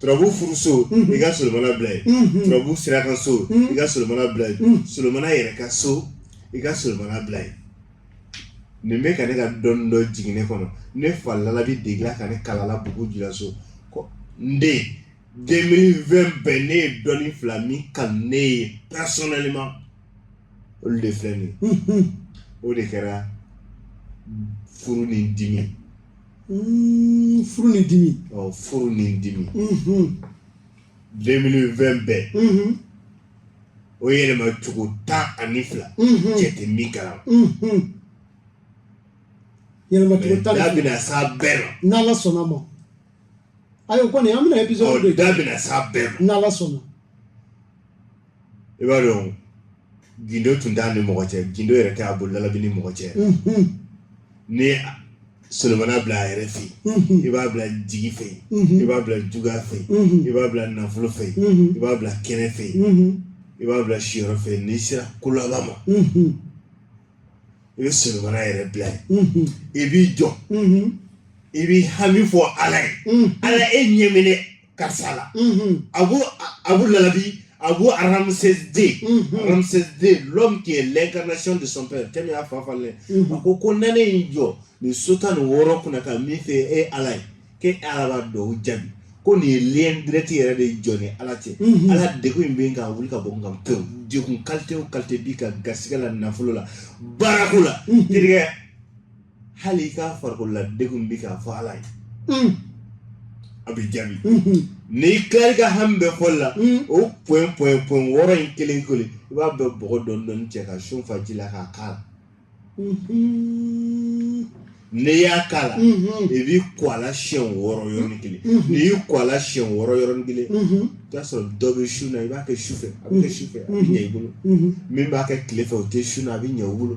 turabu furuso i ka solomana bila yen turabu saraka so i ka solomana bila yen solomana yɛrɛ ka so i ka solomana bila yen nin bɛ ka ne ka dɔnni dɔ jigin ne kɔnɔ ne fa lalabi degela ka ne kalala bugu jula so ko n den 2020 bɛɛ ne ye dɔnni fila min kanu ne ye personnellement olu de filɛ nin ye o de kɛra furu ni dimi furu ni dimi furu ni dimi deux mille vingt bɛɛ o yɛlɛma cogo tan ani fila cɛ tɛ min kalama yɛlɛma cogo tan da bɛna s'a bɛɛ ma n'ala sɔnna ma ayi o kɔni an bɛna episode de da bɛna s'a bɛɛ ma n'ala sɔnna i b'a dɔn gindo tun t'a ni mɔgɔ cɛ gindo yɛrɛ t'Abu Lalabi ni mɔgɔ cɛ ni solomana bila a yɛrɛ fɛ i b'a bila jigi fɛ i b'a bila juguya fɛ i b'a bila nafolo fɛ i b'a bila kɛnɛ fɛ i b'a bila siyɔrɔ fɛ n'i sera kolaba ma i bɛ solomana yɛrɛ bila yen i b'i jɔ i b'i hami fɔ ala ye ala e ɲɛminɛ karisa la Abu Abu Lalabi Abu Ramsès II Ramsès II l'homme qui est l'incarnation de son père cɛ min y'a fa falen a ko ko ni ne y'i jɔ nin so tan ni wɔɔrɔ kunna ka min f'e ye e ye Ala ye k'e Ala b'a dɔn o jaabi ko nin ye lien direct yɛrɛ de jɔn ni Ala cɛ Ala degun in bɛ n kan a wuli ka bɔ n kan pewu degun qualité o qualité b'i kan garisigɛ la nafolo la baarako la terikɛ hali i ka farikolola degun bɛ k'a fɔ ala ye a bɛ jaabi n'i tilala i ka hami bɛɛ fɔli la o pɔn pɔn pɔn wɔɔrɔ in kelen kelen i b'a bɛɛ bɔgɔ dɔɔni dɔɔni cɛ ka sun fa ji la k'a kala n'i y'a kala i b'i ko a la siɲɛ wɔɔrɔ yɔrɔnin kelen n'i y'i ko a la siɲɛ wɔɔrɔ yɔrɔnin kelen i b'a sɔrɔ dɔ bɛ sun na i b'a kɛ su fɛ a bɛ kɛ su fɛ a bɛ ɲɛ i bolo min b'a kɛ tile fɛ o tɛ sun na a bɛ ɲɛ i bolo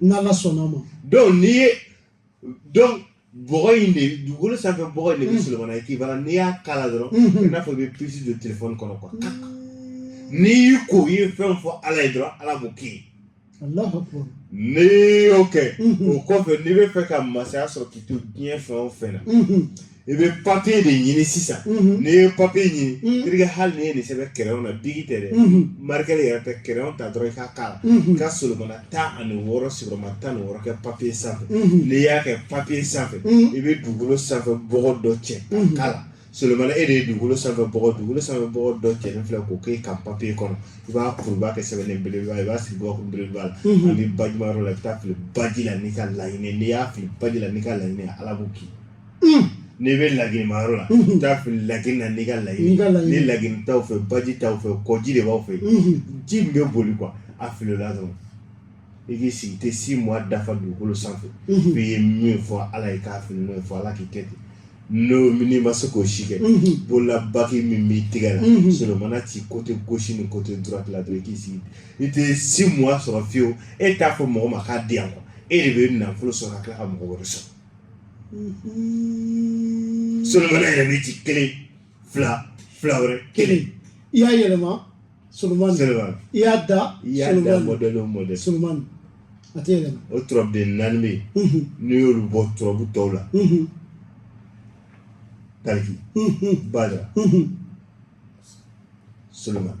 n'ala sɔnna ma donc n'i ye donc bɔgɔ in de dugukolo sanfɛ bɔgɔ in de bɛ solomana équivalent n'i y'a kala dɔrɔn i n'a fɔ i bɛ pisi don telefɔni kɔnɔ kuwa n'i y'i ko i ye fɛn fɔ ala ye dɔrɔn ala b'o k'i ye n'i y'o kɛ o kɔfɛ n'i bɛ fɛ ka masaya sɔrɔ k'i to diɲɛ fɛn o fɛn na i bɛ papiye de ɲini sisan n'i ye papiye ɲini terikɛ hali n'i ye nin sɛbɛn kiriyɔn na biki tɛ dɛ marikɛri yɛrɛ tɛ kiriyɔn ta dɔrɔn i ka k'a la i ka solomana tan ani wɔɔrɔ sigiyɔrɔma tan ni wɔɔrɔ kɛ papiye sanfɛ n'i y'a kɛ papiye sanfɛ i bɛ dugukolo sanfɛ bɔgɔ dɔ cɛ k'a la solomana e de ye dugukolo sanfɛ bɔgɔ dugukolo sanfɛ bɔgɔ dɔ cɛlen filɛ k'o k'e ka papiye kɔnɔ i b'a kuru i b'a kɛ sɛbɛnnen belebeleba i b'a sigi gabakuru belebeleba la ani bajimayɔrɔ la i bɛ taa fili baji la n'i ka laɲini n'i y'a fili baji la n'i ka laɲini ala b'o k'i n'i bɛ laginimayɔrɔ la i bɛ taa fili lagini na n'i ka laɲini ni lagini t'aw fɛ baji t'aw fɛ kɔji de b'aw fɛ ji min bɛ boli kuwa a fili o la dɔrɔn i k'i sigi i tɛ six mois dafa dugukolo sanfɛ f'i ye min fɔ ala ye k'a fili n'o ye fɔ ala k'i kɛ ten n'o n'i ma se k'o si kɛ bolola bagi min b'i tigɛ la solomana ci kote gosi ni kote durati la dɔrɔn i k'i sigi i tɛ six mois sɔrɔ fiyewu e t'a fɔ mɔgɔ ma k'a di yan kuwa e de bɛ nafolo sɔrɔ ka tila ka mɔgɔ wɛrɛ sɔn solomana yɛrɛ bɛ ci kelen fila fila wɛrɛ kelen i y'a yɛlɛma solomani solomani i y'a da i y'a da mɔdɛli o mɔdɛli solomani a tɛ yɛlɛma o turabuden naani bɛ yen n'i y'olu bɔ turabu tɔw la tariki badara solomani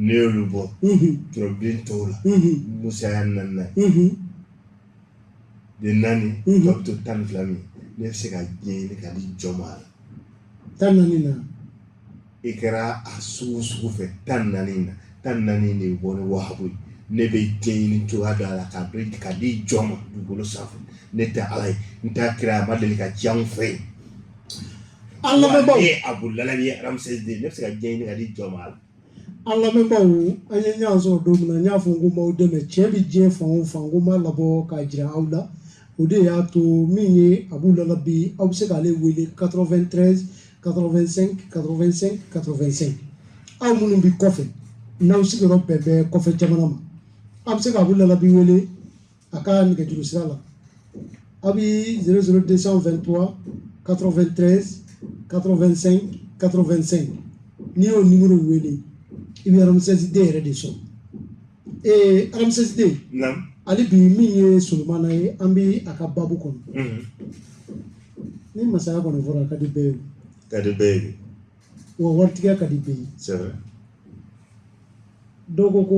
n'i y'olu bɔ turabuden tɔw la musa y'a naaninan de naani tɔ bɛ to tan ni fila min ne bɛ se ka diɲɛ ɲini ka di jɔn ma a la tan naani na i kɛra a sugu sugu fɛ tan naani na tan naani de bɔ ni wahabu ye ne bɛ diɲɛ ɲini cogoya dɔ a la ka dɔn ka di jɔn ma dugukolo sanfɛ ne tɛ ala ye n t'a kira a ma deli ka ci anw fɛ yen an lamɛnbaaw ye abu lalabi ye Ramsès deux ne bɛ se ka diɲɛ ɲini ka di jɔn ma a la an lamɛnbaaw an ye ɲɔgɔn sɔrɔ don min na n y'a fɔ n ko n b'aw dɛmɛ tiɲɛ bɛ diɲɛ fan o fan ko n b'a labɔ k'a jira aw la o de y'a to min ye abu lalabi aw bɛ se k'ale wele 93 85 85 85 aw minnu bɛ kɔfɛ n'aw sigiyɔrɔ bɛn bɛ kɔfɛ jamana ma aw bɛ se ka abu lalabi wele a ka nɛgɛjuru sira la a bɛ 00223 93 85 85 n'i y'o nimoro wele i bɛ Ramsès deux yɛrɛ de sɔrɔ ee Ramsès deux ali bi min ye solomana ye an bɛ a ka babu kɔnɔ mhm. ni masaya kɔni fɔra a ka di bɛɛ ye ka di bɛɛ ye wa waritigiya ka di bɛɛ ye dɔw ko ko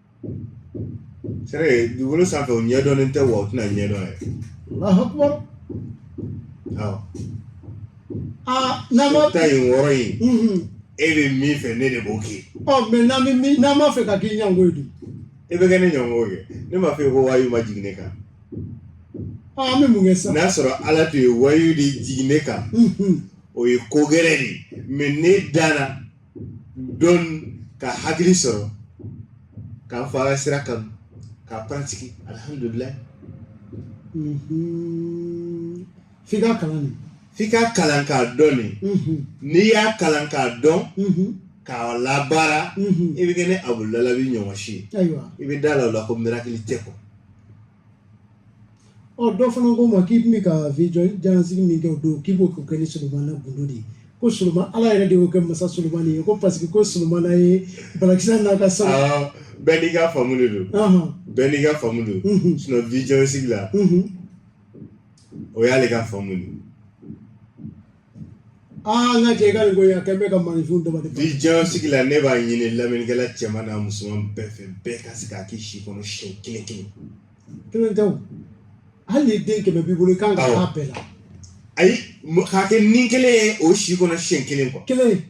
c'est vrai dugukolo sanfɛ o ɲɛdɔnnen tɛ wa o tɛna ɲɛdɔn yɛrɛ Allahu akbar awɔ aa n'an ma ta in wɔɔrɔ in Mhm. e bɛ min fɛ ne de b'o kɛ ɔ mais n'an bɛ min n'an b'a fɛ ka k'i ɲango ye dun e bɛ kɛ ne ɲɔgɔn kɛ ne m'a fɔ e ko wayu ma jigin ne kan ɔ an bɛ mun kɛ sisan n'a sɔrɔ ala tun ye wayu de jigin ne kan Mhm. o ye ko gɛrɛ de ye mais ne danna don ka hakili sɔrɔ k'an fa ka sira kanu k'a pratiquer alihamudulilayi f'i ka kalan de f'i ka kalan k'a dɔn de n'i y'a kalan k'a dɔn k'a labaara i bɛ kɛ ne abu lalabi ɲɔgɔn si ye ayiwa i bɛ da la o la ko miracle tɛ kɔ ɔ dɔ fana ko n ma k'i tun bɛ ka vision jalansigi min kɛ o don k'i b'o kɛ ni solomana gundo de ye ko solomana ala yɛrɛ de y'o kɛ masa solomana ye ko parce que ko solomana ye balikisa n'a ka sa bɛɛ n'i ka faamu de don bɛɛ n'i ka faamu don sinon vision sigi la o y'ale ka faamu de ye aa n ka cɛ i ka nin ko in a kɛ bɛ ka maninfinw dama de vision sigi la ne b'a ɲini lamɛnnikɛla cɛman n'a musoman bɛɛ fɛ bɛɛ ka se k'a k'i si kɔnɔ siɲɛ kelen kelen kelen tɛ o hali ni den kɛmɛ b'i bolo i kan ka Awɔ. k'a bɛɛ la ayi mɔ- k'a kɛ ni kelen ye o si kɔnɔ siɲɛ kelen quoi kelen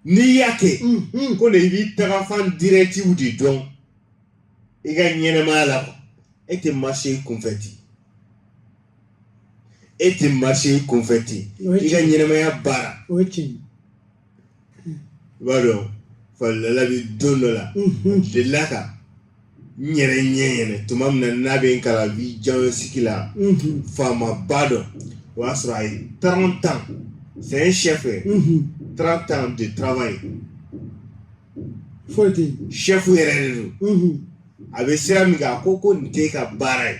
n'i y'a kɛ unhun, ko de i b'i tagafan directives de dɔn i ka ɲɛnɛmaya la quoi e tɛ marcher i kunfɛ ten e tɛ marcher i kunfɛ ten i ka ɲɛnɛmaya baara o ye tiɲɛ ye i b'a dɔn falala bɛ don dɔ la delila ka n yɛrɛ ɲɛ yɛlɛ tuma min na n'a bɛ n kalan vision sigi la faamaba dɔ o y'a sɔrɔ a ye trente ans c'est un chef trente ans de travail foyi tɛ yen chef yɛrɛ de don a bɛ sira min kan a ko ko nin t'e ka baara ye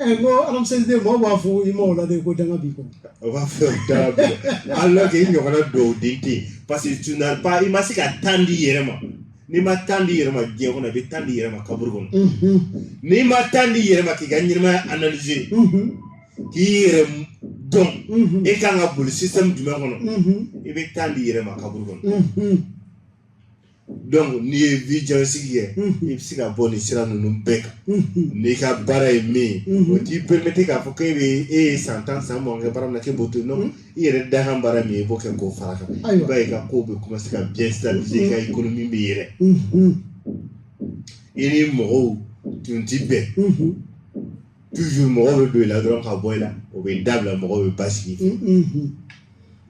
ɛ n ko alamuseliden mɔgɔw b'a fɔ i ma o la de ko danga b'i kɔ o b'a fɔ danga b'i kɔ alors que i ɲɔgɔnna dɔw den tɛ yen parce que tu n'as pas i ma se ka temps di i yɛrɛ ma n'i ma temps di i yɛrɛ ma diɲɛ kɔnɔ i bɛ temps di i yɛrɛ ma kaburu kɔnɔ n'i ma temps di i yɛrɛ ma k'i ka ɲɛnɛmaya analyser k'i yɛrɛ dɔn e kan ka boli système jumɛn kɔnɔ i bɛ temps di i yɛrɛ ma kaburu kɔnɔ donc n'i ye vision sigi kɛ i bɛ se ka bɔ nin sira ninnu bɛɛ kan n'i ka baara ye min ye o t'i permettre k'a fɔ k'e bɛ e ye san tan san mugan kɛ baara min na k'e b'o to yen non i yɛrɛ dakan baara min ye i b'o kɛ k'o fara a kan i b'a ye i ka kow bɛ commencer ka bien stabiliser i ka économie bɛ yɛlɛ i ni mɔgɔw tun ti bɛn toujours mɔgɔw bɛ don i la dɔrɔn ka bɔ i la o bɛ dabila mɔgɔw bɛ basigi i fɛ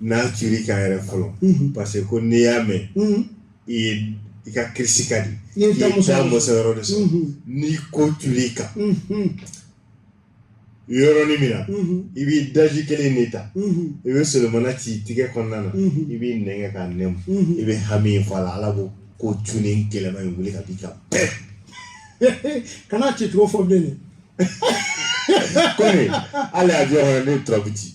n'a ci i kan yɛrɛ fɔlɔ unhun parce que ko n'i y'a mɛn unhun i ye i ka kirisi ka di I ye taa muso taa muso yɔrɔ de sɔrɔ unhun n'i ko tuli i kan unhun yɔrɔnin min na unhun i b'i daji kelen de ta unhun i bɛ solomana ci i tigɛ kɔnɔna na Mhm. i b'i nɛn kɛ k'a nɛmu unhun i bɛ hami in fɔ a la ala b'o ko tuni gɛlɛma in wuli ka b'i kan pɛɛ kana ci cogo fɔ bilen dɛ kɔmi hali a jɔyɔrɔ ne turabu ci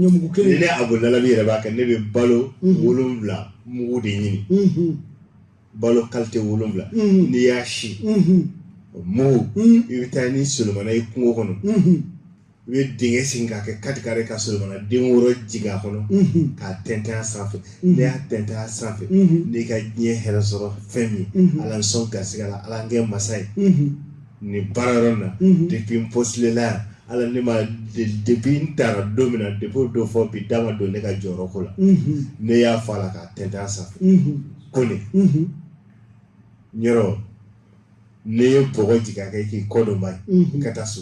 ɲɔmugu kelen ni ne abolalabi yɛrɛ b'a kɛ ne bɛ balo mhm. wolonwula mugu de ɲini mhm. balo kalite wolonwula mhm. n'i y'a si mugu i bɛ taa ni solomana ye kungo kɔnɔ i bɛ dingɛ sen k'a kɛ quatre carré ka solomana den wɔɔrɔ jigin a kɔnɔ k'a tɛntɛn a sanfɛ n'i y'a tɛntɛn a sanfɛ n'i ka diɲɛ hɛrɛ sɔrɔ fɛn min ala n sɔn garisigɛ la ala n kɛ masa ye nin baara yɔrɔ in na depuis n postuler la yan ala ne ma depuis n taara don min na depuis o don fɔ bi da ma don ne ka jɔyɔrɔko la ne y'a fɔ a la k'a tɛntɛn a sanfɛ ko nin yɔrɔ ne ye bɔgɔ jigin a kan k'i kɔdɔnba ye ka taa so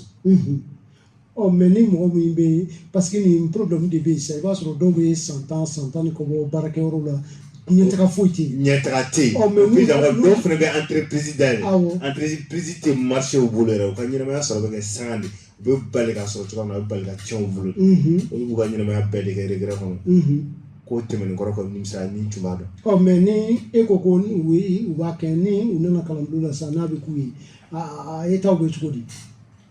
ɔ mais ni mɔgɔ min bɛ yen parce que nin problème de bɛ yen sisan i b'a sɔrɔ dɔw bɛ san tan san tan ni kɔ bɔ baarakɛyɔrɔ la ɲɛtaga foyi tɛ yen ɲɛtaga tɛ yen ɔ mais minnu dɔw dɔw fana bɛ entreprise dayɛlɛ Awɔ. entreprise tɛ marché u bolo yɛrɛ u ka ɲɛnamaya sɔrɔ bɛ kɛ sanga de u bɛ bali k'a sɔrɔ cogoya min na u bɛ bali ka tiɲɛ u bolo Mhm, olu b'u ka ɲɛnamaya bɛɛ de kɛ regret kɔnɔ mhm. ko tɛmɛnen kɔrɔ kɔ nimisa ni n tun b'a dɔn ɔ mais ni e ko ko ni u ye u b'a kɛ ni u nana kalanbulon la sisan n'a bɛ k'u ye a a- a ye taw bɛ cogo di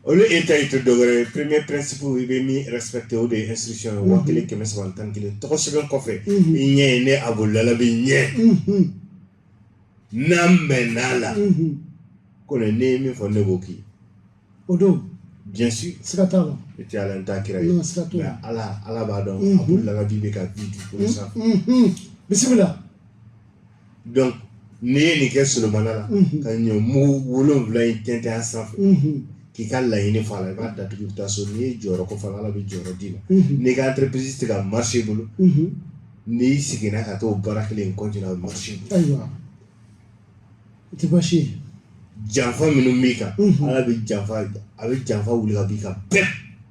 olu état tɛ dɔwɛrɛ ye premier principe i bɛ min respecter o de ye inscription ye waa kelen kɛmɛ saba tan ni kelen tɔgɔ sɛbɛn kɔfɛ i ɲɛ ye ne Abdoul Lalabi ye n'an bɛnn'a la ko ne ne ye min fɔ ne b'o kɛ o don bien sûr siga t'a la n tɛ ala n t'a kira ye nka ala ala b'a dɔn Abdoul Lalabi bɛ ka vie dugukolo sanfɛ bisimila donc n'i ye nin kɛ Solomana la ka ɲɔmugu wolonwula in tɛntɛn a sanfɛ k'i ka laɲini fɔ a la i b'a datugu i bɛ taa so n'i ye jɔyɔrɔ ko fɔ ala bɛ jɔyɔrɔ d'i ma n'i ka entreprise tɛ ka marché i bolo n'i seginna ka taa baara kelen continuer a bɛ marché o tɛ baasi ye janfa minnu b'i kan ala bɛ janfa a bɛ janfa wili ka b'i kan bɛɛ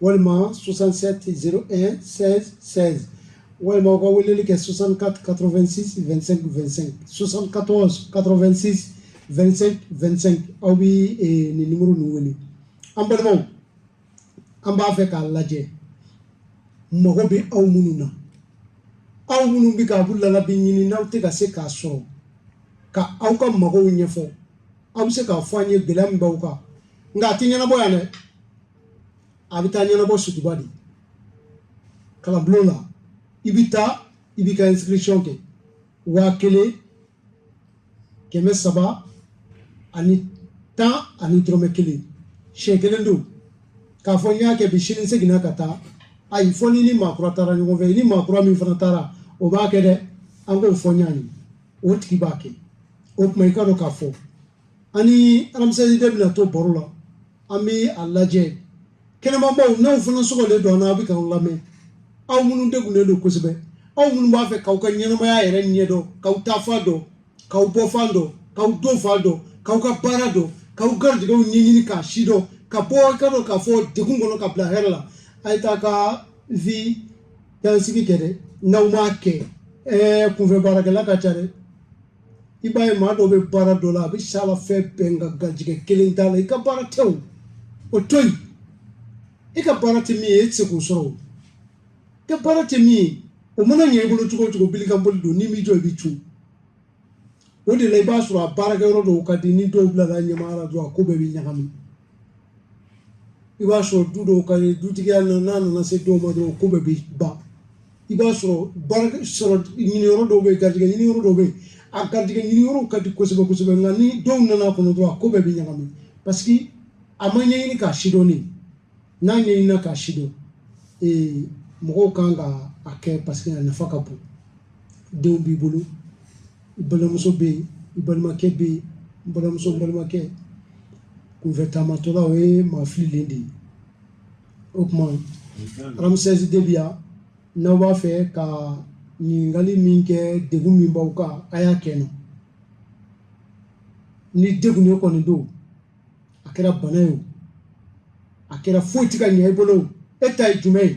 walima 6701 walima aw ka weleli kɛ 64 86 25 25 74 86 25 25 aw bɛ eh, nin numéro ninnu wele an balimaw an b'a fɛ k'a lajɛ mago bɛ aw minnu na aw minnu bɛ ka Abdoul Lalabi ɲini n'aw tɛ ka se k'a sɔrɔ ka aw ka magow ɲɛfɔ aw bɛ se k'a fɔ an ye gɛlɛya min b'aw kan nka a tɛ ɲɛnabɔ yan dɛ a bɛ taa ɲɛnabɔ suguba de kalanbulon na i bɛ taa i b'i ka inscription kɛ waa kelen kɛmɛ saba ani tan ani dɔrɔmɛ kelen siɲɛ kelen don k'a fɔ n y'a kɛ bi sini n seginna ka taa ayi fɔ n'i ni maakura taara ɲɔgɔn fɛ i ni maakura min fana taara o b'a kɛ dɛ an k'o fɔ ɲɔgɔn ye o tigi b'a kɛ o tuma i k'a dɔn k'a fɔ an ni alamisɛnnin bɛna to baro la an bɛ a lajɛ kɛnɛmamaaw n'aw fana sɔgɔlen don an na a bɛ k'aw lamɛn aw minnu degunnen don kosɛbɛ aw minnu b'a fɛ k'aw ka ɲɛnamaya yɛrɛ ɲɛ dɔn k'aw taafan dɔn k'aw bɔfan dɔn k'aw donfan dɔn k'aw ka baara dɔn k'aw garijɛgɛw ɲɛɲini k'a si dɔn ka bɔ i ka dɔn k'a fɔ degun kɔnɔ ka bila hɛrɛ la a ye taa ka vie dansigi kɛ dɛ n'aw m'a kɛ ɛɛ kunfɛ baarakɛla ka ca dɛ i b'a ye maa dɔ bɛ baara dɔ la a bɛ s'a la fɛn bɛɛ nka garijɛgɛ kelen t'a la i ka baara tɛ o o to yen i ka baara tɛ min ye e tɛ se k'o sɔrɔ o i ka baara tɛ min ye o mana ɲɛ i bolo cogo o cogo bilikanboli don n'i m'i jɔ i bɛ cun o de la i b'a sɔrɔ a baarakɛyɔrɔ dɔw ka di ni dɔw bilala ɲɛmaaya la dɔrɔn a ko bɛɛ bɛ ɲagami i b'a sɔrɔ du dɔw ka di dutigiya n'a nana se dɔw ma dɔrɔn ko bɛɛ bɛ ban i b'a sɔrɔ baara sɔrɔ ɲiniyɔrɔ dɔw bɛ yen garijɛgɛ ɲiniyɔrɔ dɔw bɛ yen a garijɛgɛ ɲiniyɔrɔw ka di kosɛbɛ kosɛbɛ nka ni dɔw nana a kɔnɔ dɔrɔn a ko bɛɛ bɛ ɲagami parce que a ma ɲɛɲini k'a sidɔn de n'a ɲɛɲinina k'a sidɔn ee mɔgɔw ka kan k'a kɛ parce que a nafa ka bon denw b'i bolo i balimamuso bɛ yen i balimakɛ bɛ yen n balimamuso n balimakɛ kunfɛ taamatɔla o ye maa fililen de ye o tuma ramsesi de bi yan n'aw b'a fɛ ka ɲininkali min kɛ degun min b'aw kan a y'a kɛ n na ni degun ye kɔni don a kɛra bana ye o a kɛra foyi tɛ ka ɲɛ i bolo o e ta ye jumɛn ye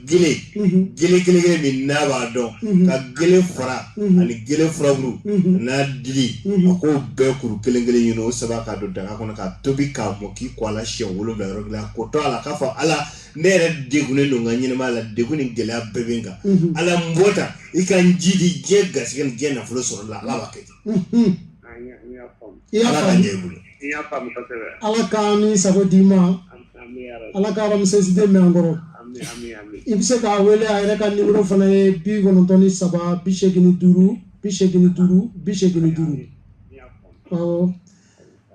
gele gele gele gele min n'a b'a dɔn ka gele fara ani gele furaburu n'a dili a k'o bɛɛ kuru kelen kelen ɲini o saba k'a don daga kɔnɔ k'a tobi k'a mɔ k'i ko a la siɲɛ wolonwula yɔrɔ kelen a k'o to a la k'a fɔ ala ne yɛrɛ degunnen don n ka ɲɛnɛmaya la degun ni gɛlɛya bɛɛ bɛ n kan ala n bɔ ta i ka n jiidi diɲɛ garisɛgɛ ni diɲɛ nafolo sɔrɔ la ala b'a kɛ ten ala k'a ɲɛ i bolo ala ka ni sago d'i ma ala ka ramsesi de mɛn an kɔrɔ i bɛ se k'a wele a yɛrɛ ka nimero fana ye bi kɔnɔntɔn ni saba bi segin ni duuru bi segin ni duuru bi segin ni duuru ɔ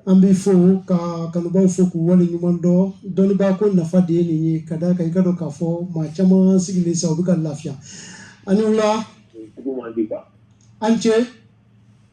an b'i fo ka kanubaw fo k'u wale ɲuman dɔn dɔnnibaa ko nafa de ye nin ye ka d'a kan i k'a dɔn k'a fɔ maa caman sigilen sa u bɛ ka lafiya a ni wula an cɛ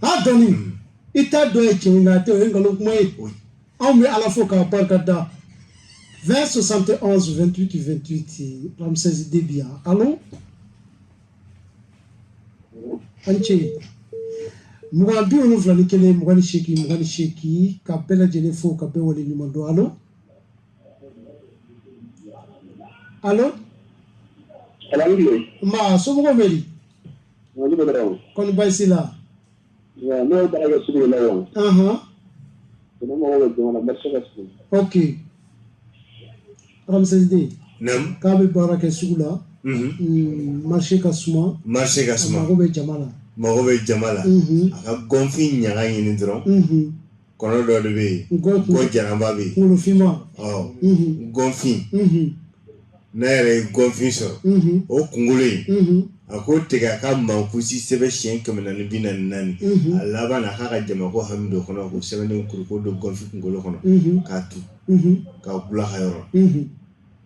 a dɔnni i t'a dɔn ye tiɲɛ nka a tɛ o ye nkalon kuma ye anw bɛ ala fo k'a barika da 20 71 28 28 ramsesi de bi yan alo an ce mugan bi wolonwula ni kelen mugan ni seegin mugan ni seegin ka bɛɛ lajɛlen fo ka bɛɛ wale ɲuman dɔn alo alo nba somɔgɔw bɛ di Kɔni baasi la ne ye baara sugu la yan ɔ k'a bɛ baara kɛ sugu la marché ka suma mago bɛ jama la mago bɛ jama la a ka gɔnfin ɲaga ɲini dɔrɔn kɔnɔ dɔ de bɛ yen ko jaraba bɛ yen kolofinma gɔnfin n'a yɛrɛ ye gɔnfin sɔrɔ o kunkolo in a k'o tigɛ a ka mankusi sɛbɛn siɲɛ kɛmɛ naani ni bi naani naani a laban na k'a ka jama ko hami dɔ kɔnɔ k'o sɛbɛnnen kuru k'o don gɔnfin kunkolo kɔnɔ k'a tu k'a bula ka yɔrɔ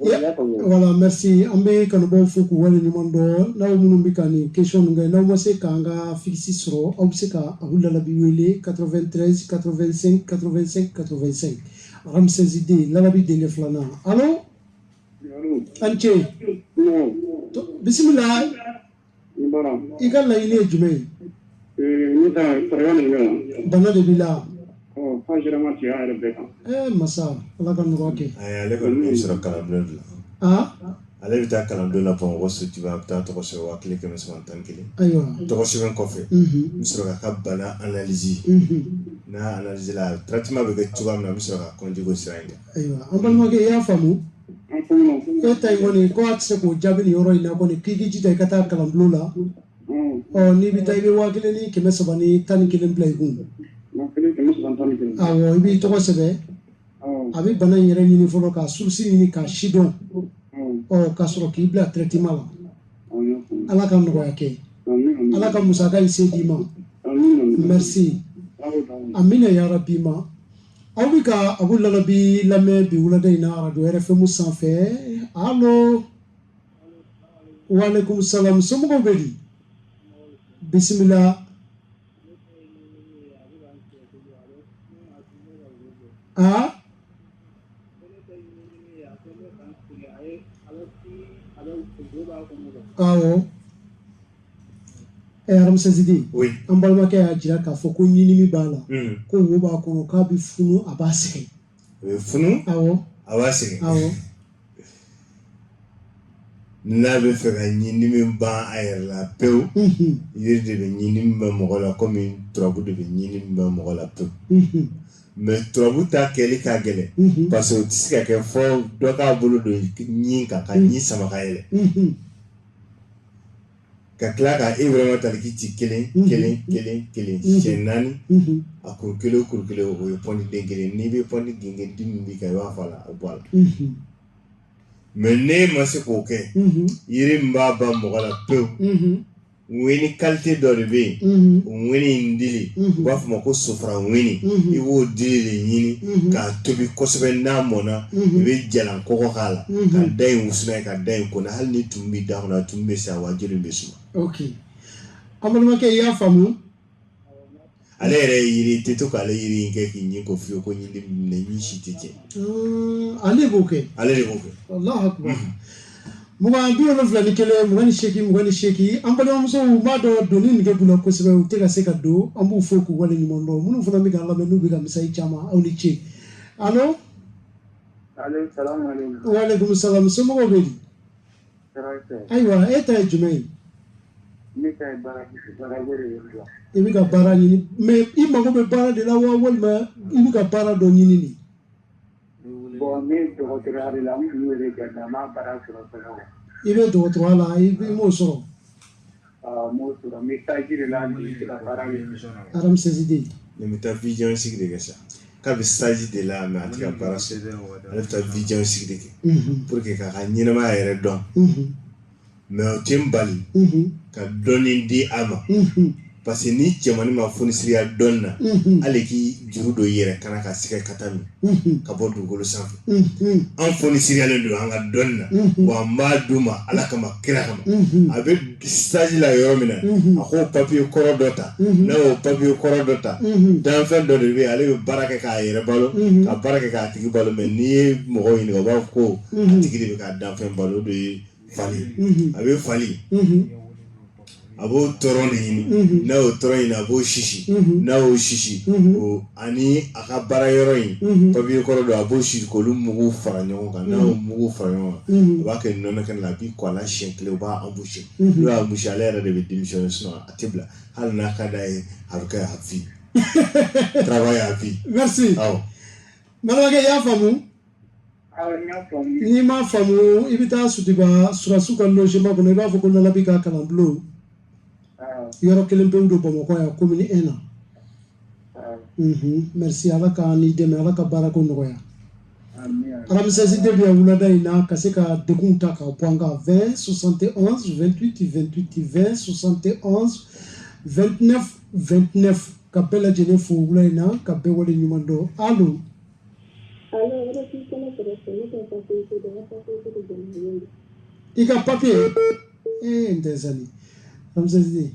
voilà merci an bɛ kanubaaw fo k'u wale ɲuman dɔn n'aw minnu bɛ ka nin question ninnu kɛ n'aw ma se k'an ka figisi sɔrɔ aw bɛ se ka abu lalabi wele 93 85 85 85 ramsès deux lalabi denkɛ filanan alo an ce bisimila i ka laɲini ye jumɛn ye ne ka sariya nin bɛ yan bana de b'i la ɔ k'a sera ma cɛya yɛrɛ bɛɛ kan ee masa ala ka nɔgɔya kɛ ayi ale kɔni bɛ sɔrɔ kalanbulon de la aa ale bɛ taa kalanbulon la bamakɔ sotiba a bɛ taa tɔgɔ sɛbɛn waa kelen kɛmɛ saba tan kelen ayiwa tɔgɔ sɛbɛn kɔfɛ n bɛ sɔrɔ k'a ka bana analizi n'a analizela traitement bɛ kɛ cogoya min na n bɛ sɔrɔ ka continuer o sira in kan ayiwa an balimakɛ i y'a faamu e ta in kɔni ko a tɛ se k'o jaabi nin yɔrɔ in na kɔni k'i k'i jija i ka taa kalanbulon la ɔ n'i bɛ taa i bɛ waa kelen ni kɛmɛ saba ni tan ni kelen bila i kun awɔ i b'i tɔgɔ sɛbɛn a bɛ bana in yɛrɛ ɲini fɔlɔ ka surusi ɲini k'a sidɔn ɔ ka sɔrɔ k'i bila traitement la ala ka nɔgɔya kɛ ala ka musaka in se d'i ma merci amina yarabi ma aw bɛ ka abu lalabi lamɛn bi wulada in na arajo RFM sanfɛ alo waaleykum salaam somɔgɔw bɛ di bisimila aa awɔ Ɛ ramsès deux an balimakɛ y'a jira k'a fɔ ko ɲindimi b'a la ko wo b'a kɔnɔ k'a bɛ funu a b'a sɛgɛn funu a b'a sɛgɛn n'a b'a fɛ ka ɲindimi ban a yɛrɛ la pewu yiri de bɛ ɲindimi ban mɔgɔ la kɔmi turabu de bɛ ɲindimi ban mɔgɔ la pewu mais turabu ta kɛli ka gɛlɛn parce que o tɛ se ka kɛ fo dɔ k'a bolo don ɲin kan ka ɲin sama yɛrɛ ka tila ka vraiment taliki ci kelen kelen kelen kelen siɲɛ naani a ko kelen kuru kelen o ye pɔntiden kelen n'i bɛ pɔnti gengen dimi bɛ kɛ i b'a fɔ a la a bɔ a la mais ne ma se k'o kɛ yiri min b'a ban mɔgɔ la pewu ŋɛni kalite dɔ de bɛ yen o ŋɛni in dili u b'a fɔ a ma ko sofara ŋɛni i b'o dili de ɲini k'a tobi kosɛbɛ n'a mɔnna i bɛ jalan kɔgɔ k'a la ka da in wusu n'a ye ka da in kɔnɔ hali ni tumu b'i da kɔnɔ tumu bɛ sa wa joli bɛ suma an balimakɛ i y'a faamu ale yɛrɛ ye tɛ to k'ale yiri kɛ k'i ɲin ko fewu ko ɲin si tɛ tiɲɛ ale b'o kɛ ale de b'o kɛ mugan bi wolonfila ni kelen mugan ni seegin mugan ni seegin an balimamusow b'a dɔn donni nege b'u la kosɛbɛ u tɛ ka se ka don an b'u fo k'u wale ɲuman dɔn minnu fana bɛ k'an lamɛn n'u bɛ ka message ci an ma aw ni ce alo waleyikumu salamu somɔgɔw bɛ ayiwa e ta ye jumɛn ye i bɛ ka baara ɲini mɛ i mago bɛ baara de la wa walima i bɛ ka baara dɔ ɲini de i bɛ dɔgɔtɔrɔya la i m'o sɔrɔ sigi de kɛ sa k'a bɛ stage de la mɛ a tɛ ka baara sɔrɔ ale bɛ taa vision sigi de kɛ pour que k'a ka ɲɛnamaya yɛrɛ dɔn mɛ o tɛ n bali ka dɔnni di a ma parce que ni cɛmannin ma fonisireya dɔnni na ale k'i juru don i yɛrɛ kana ka sɛgɛ ka taa min ka bɔ dugukolo sanfɛ an fonisireyalen don an ka dɔnni na wa an b'a d'u ma ala kama kira kama a bɛ stage la yɔrɔ min na a k'o papiye kɔrɔ dɔ ta n'a y'o papiye kɔrɔ dɔ ta danfɛn dɔ de bɛ yen ale bɛ baara kɛ k'a yɛrɛ balo ka baara kɛ k'a tigi balo mɛ n'i ye mɔgɔ ɲininka u b'a fɔ ko a tigi de bɛ ka danfɛn balo o de ye fali a bɛ fali a b'o tɔrɔn de ɲini n'a y'o tɔrɔn ɲini a b'o sisi n'a y'o sisi o ani a ka baara yɔrɔ in papiye kɔrɔ dɔ a b'o sisi k'olu mugu fara ɲɔgɔn kan n'a y'o mugu fara ɲɔgɔn kan a b'a kɛ nɔnɔ kɛnɛ la a b'i ko a la siɲɛ kelen u b'a embaucher n'u y'a embaucher ale yɛrɛ de bɛ démissionner sinon a tɛ bila hali n'a ka d'a ye a bɛ kɛ à vie travail à vie merci awɔ balimakɛ i y'a faamu N'i m'a faamu i bɛ taa suba sulasiw ka lɔsima kɔnɔ i b'a fɔ ko nana bɛ ka kalan bulon yɔrɔ kelen bɛ don bamakɔ yan ko e na ala ka ni dɛmɛ ala ka baara ko nɔgɔya alamisasi de bɛ wulada in na ka se ka de ta ka bɔ an kan fɛn sɔsan tɛ tɛ2 sɔsan tɛ tɛt ka bɛɛ lajɛlen fo wula in na ka bɛɛ wale ɲuman dɔn i ka papiye n tɛ sali lamisa sidi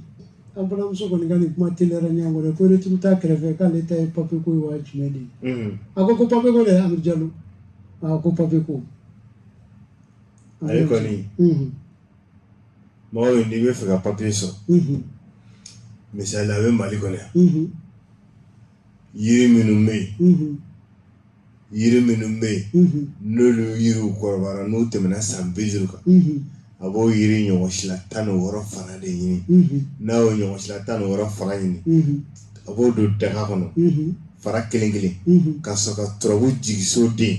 an balimamuso kɔni ka nin kuma teliyara ɲɔgɔn kɔrɔ ko retour t'a kɛrɛfɛ k'ale ta ye papiye ko ye wa jumɛn de ye mhm. a ko ko papiye ko dɛ amidu jalo a ko papiye ko ale kɔni mhm. mɔgɔ min n'i bɛ fɛ ka papiye sɔrɔ mhm. misali a bɛ mali kɔnɔ yan yiri minnu bɛ yen yiri minnu bɛ yen n'olu yiri kɔrɔbara n'u tɛmɛna san bi duuru kan a b'o yiri ɲɔgɔnsila tan ni wɔɔrɔ fara de ɲini n'a y'o ɲɔgɔnsila tan ni wɔɔrɔ fara ɲini a b'o don daga kɔnɔ fara kelen kelen ka sɔrɔ ka turabu jigiso den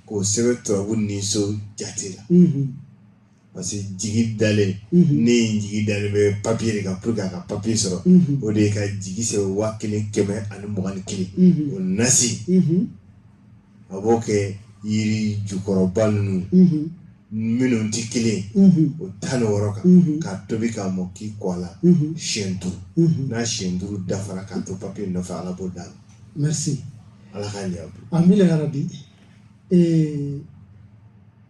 k'o sɛbɛn turabu niso jate la parce que jigi dalen mhm. n'i jigi dalen bɛ papier de kan pour que a ka papier sɔrɔ mhm. o de ye ka jigi sɛbɛn waa kelen kɛmɛ ani mugan ni kelen mhm. o nasi a b'o kɛ yiri ju kɔrɔba ninnu minnu tɛ kelen o tan ni wɔɔrɔ kan k'a tobi k'a mɔ k'i ko a la siɲɛ duuru n'a siɲɛ duuru dafara k'a to papier nɔfɛ ala b'o d'a ma. merci ala k'a ɲɛ. amina yarabi.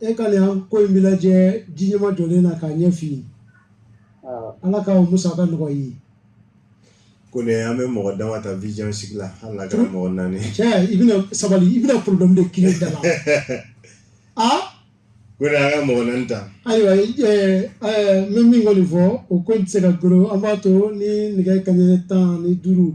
e ka nin ko in bɛ lajɛ diɲɛma jɔlen na k'a ɲɛf'i ye ala k'a musaka nɔgɔya ko an bɛ mɔgɔ dama ta vision sigi la hali kɛra mɔgɔ naani i bɛna sabali i bɛna problème de ki da la aa ko an ka mɔgɔ naani ta ayiwa n bɛ min kɔni nin fɔ o ko tɛ se ka g an b'a to ni nɛgɛ kanɲɛ tan ni duuru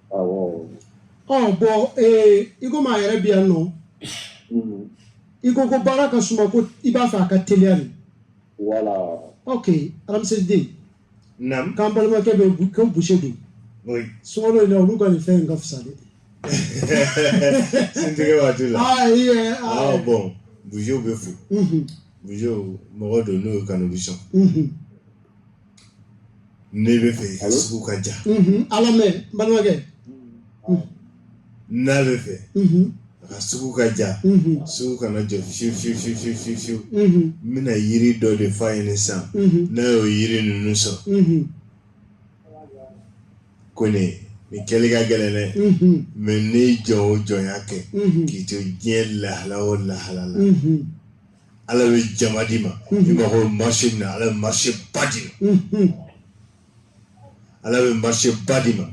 ɔ bɔn ee i komi a yɛrɛ bi yan nɔ mm-hmm. i ko ko baara ka suma ko i b'a fɛ a ka teliya de ok alamsiriden k'an balimakɛ bɛ ko boucher don sunkalo in na olu ka nin fɛn in ka fisa de suntigɛ waati la ah, ah, bɔn boucherw bɛ fo mm-hmm. boucherw mɔgɔ don n'o ye kanubisɔn Ne bɛ fɛ i ka sugu ka diya ala mais balimakɛ n'a b'a fɛ a ka sugu ka diya sugu kana jɔ fiyewu n bɛna yiri dɔ de f'a ye nin sen n'a ye o yiri ninnu sɔrɔ kɔni nin kɛli ka gɛlɛn dɛ mais ne jɔ o jɔnya kɛ k'i to diɲɛ lahala o lahalala ala bɛ jama d'i ma i mago marché min na ala bɛ marché ba d'i ma ala bɛ marché ba d'i ma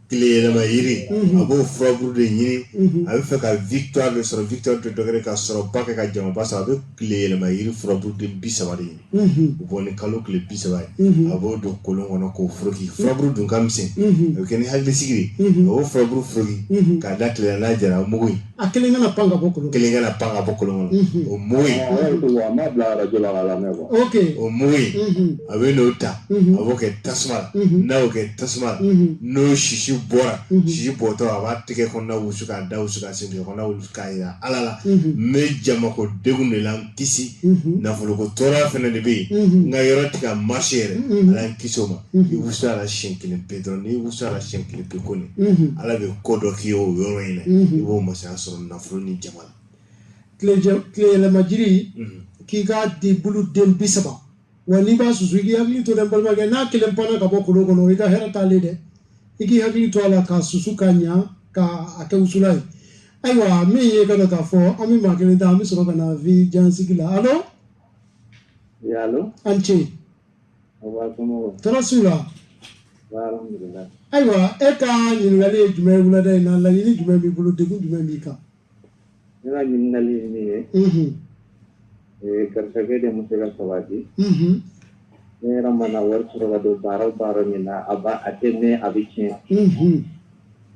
tile yɛlɛma yiri a b'o furaburu de ɲini a bɛ fɛ ka victoire de sɔrɔ victoire tɛ dɔ wɛrɛ ka sɔrɔba kɛ ka jamaba sɔrɔ a bɛ tile yɛlɛma yiri furaburu de bi saba de ɲini u bɔ ni kalo tile bi saba ye a b'o don kolon kɔnɔ k'o foroki furaburu dun ka misɛn a bɛ kɛ ni hakilisigi ye a b'o furaburu foroki k'a da tile la n'a jara o mugu in a kelen kana pan ka bɔ kolon kelen kana pan ka bɔ kolon kɔnɔ o mugu in ok o mugu in a bɛn'o ta a b'o kɛ tasuma la n'a y'o kɛ tasuma la n'o sisi bɔra sisi bɔtɔ a b'a tɛgɛ kɔnɔna wusu k'a da wusu k'a sen kɔnɔna wusu k'a yira ala la n bɛ jamako degun de la kisi nafoloko tɔɔrɔya fana de bɛ yen n ka yɔrɔ tɛ ka marcher yɛrɛ ala k'i kisi o ma i wusu a la siɲɛ kelen pe dɔrɔn n'i wusu a la siɲɛ kelen pe kɔni ala bɛ ko dɔ k'i ye o yɔrɔ in na i b'o masaya sɔrɔ nafolo ni jama la tileyɛlɛma jiri k'i ka di bolo den bi saba wa n'i b'a susu i k'i hakili to dɛ n balimakɛ n'a kelen panna ka bɔ kolon kɔnɔ i ka hɛrɛ t'a la dɛ i k'i hakili to a la k'a susu ka ɲa ka a kɛ wusulan ye ayiwa min ye ka dɔ k'a fɔ an bɛ maa kelen ta an bɛ sɔrɔ ka na vi jansigi la alo an ce tɔɔrɔ su la ayiwa e ka ɲininkali ye jumɛn ye wulada in na laɲini jumɛn b'i bolo degun jumɛn b'i kan Ne ka ɲininkali ye min ye, unhun, ee garisɛgɛ de ma se ka sabati, unhun, ne yɛrɛ mana wari sɔrɔ ka don baara o baara min na a b'a a tɛ mɛɛn a bɛ tiɲɛ, unhun,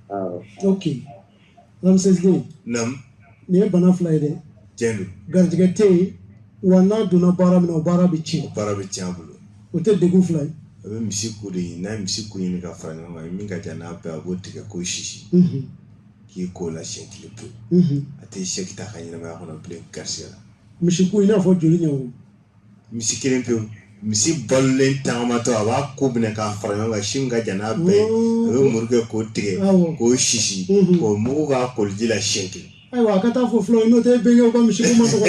awɔ, ok Ramses den, naamu, nin ye bana fila ye dɛ, tiɲɛ don, garijɛgɛ tɛ yen wa n'a donna baara min na o baara bɛ tiɲɛ, o baara bɛ tiɲɛ a bolo, o tɛ degun fila ye, a bɛ misi ku de ɲini n'a ye misi ku ɲini ka fara ɲɔgɔn kan min ka jan n'a bɛɛ ye a b'o tigɛ k'o sisi, unhun k'i ko a la siɲɛ kelen pe a tɛ sɛgɛn a ka ɲɛnamaya kɔnɔ bilen gariya la misi ku in n'a fɔ joli ɲɛ misi kelen pe misi balolen taamatɔ a b'a ku minɛ k'a fara ɲɔgɔn kan si min ka jan n'a bɛɛ a bɛ muru kɛ k'o tigɛ k'o sisi k'o mugu k'a koliji la siɲɛ kelen ayiwa a ka taa fɔ fula n'o tɛ bɛn ka misi ma sɔrɔ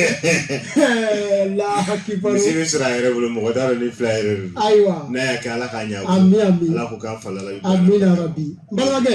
misi bɛ sɔrɔ a yɛrɛ bolo mɔgɔ da ni fila yɛrɛ ayiwa n'a y'a kɛ ala k'a ɲɛ ala ko k'a fa la bi balimakɛ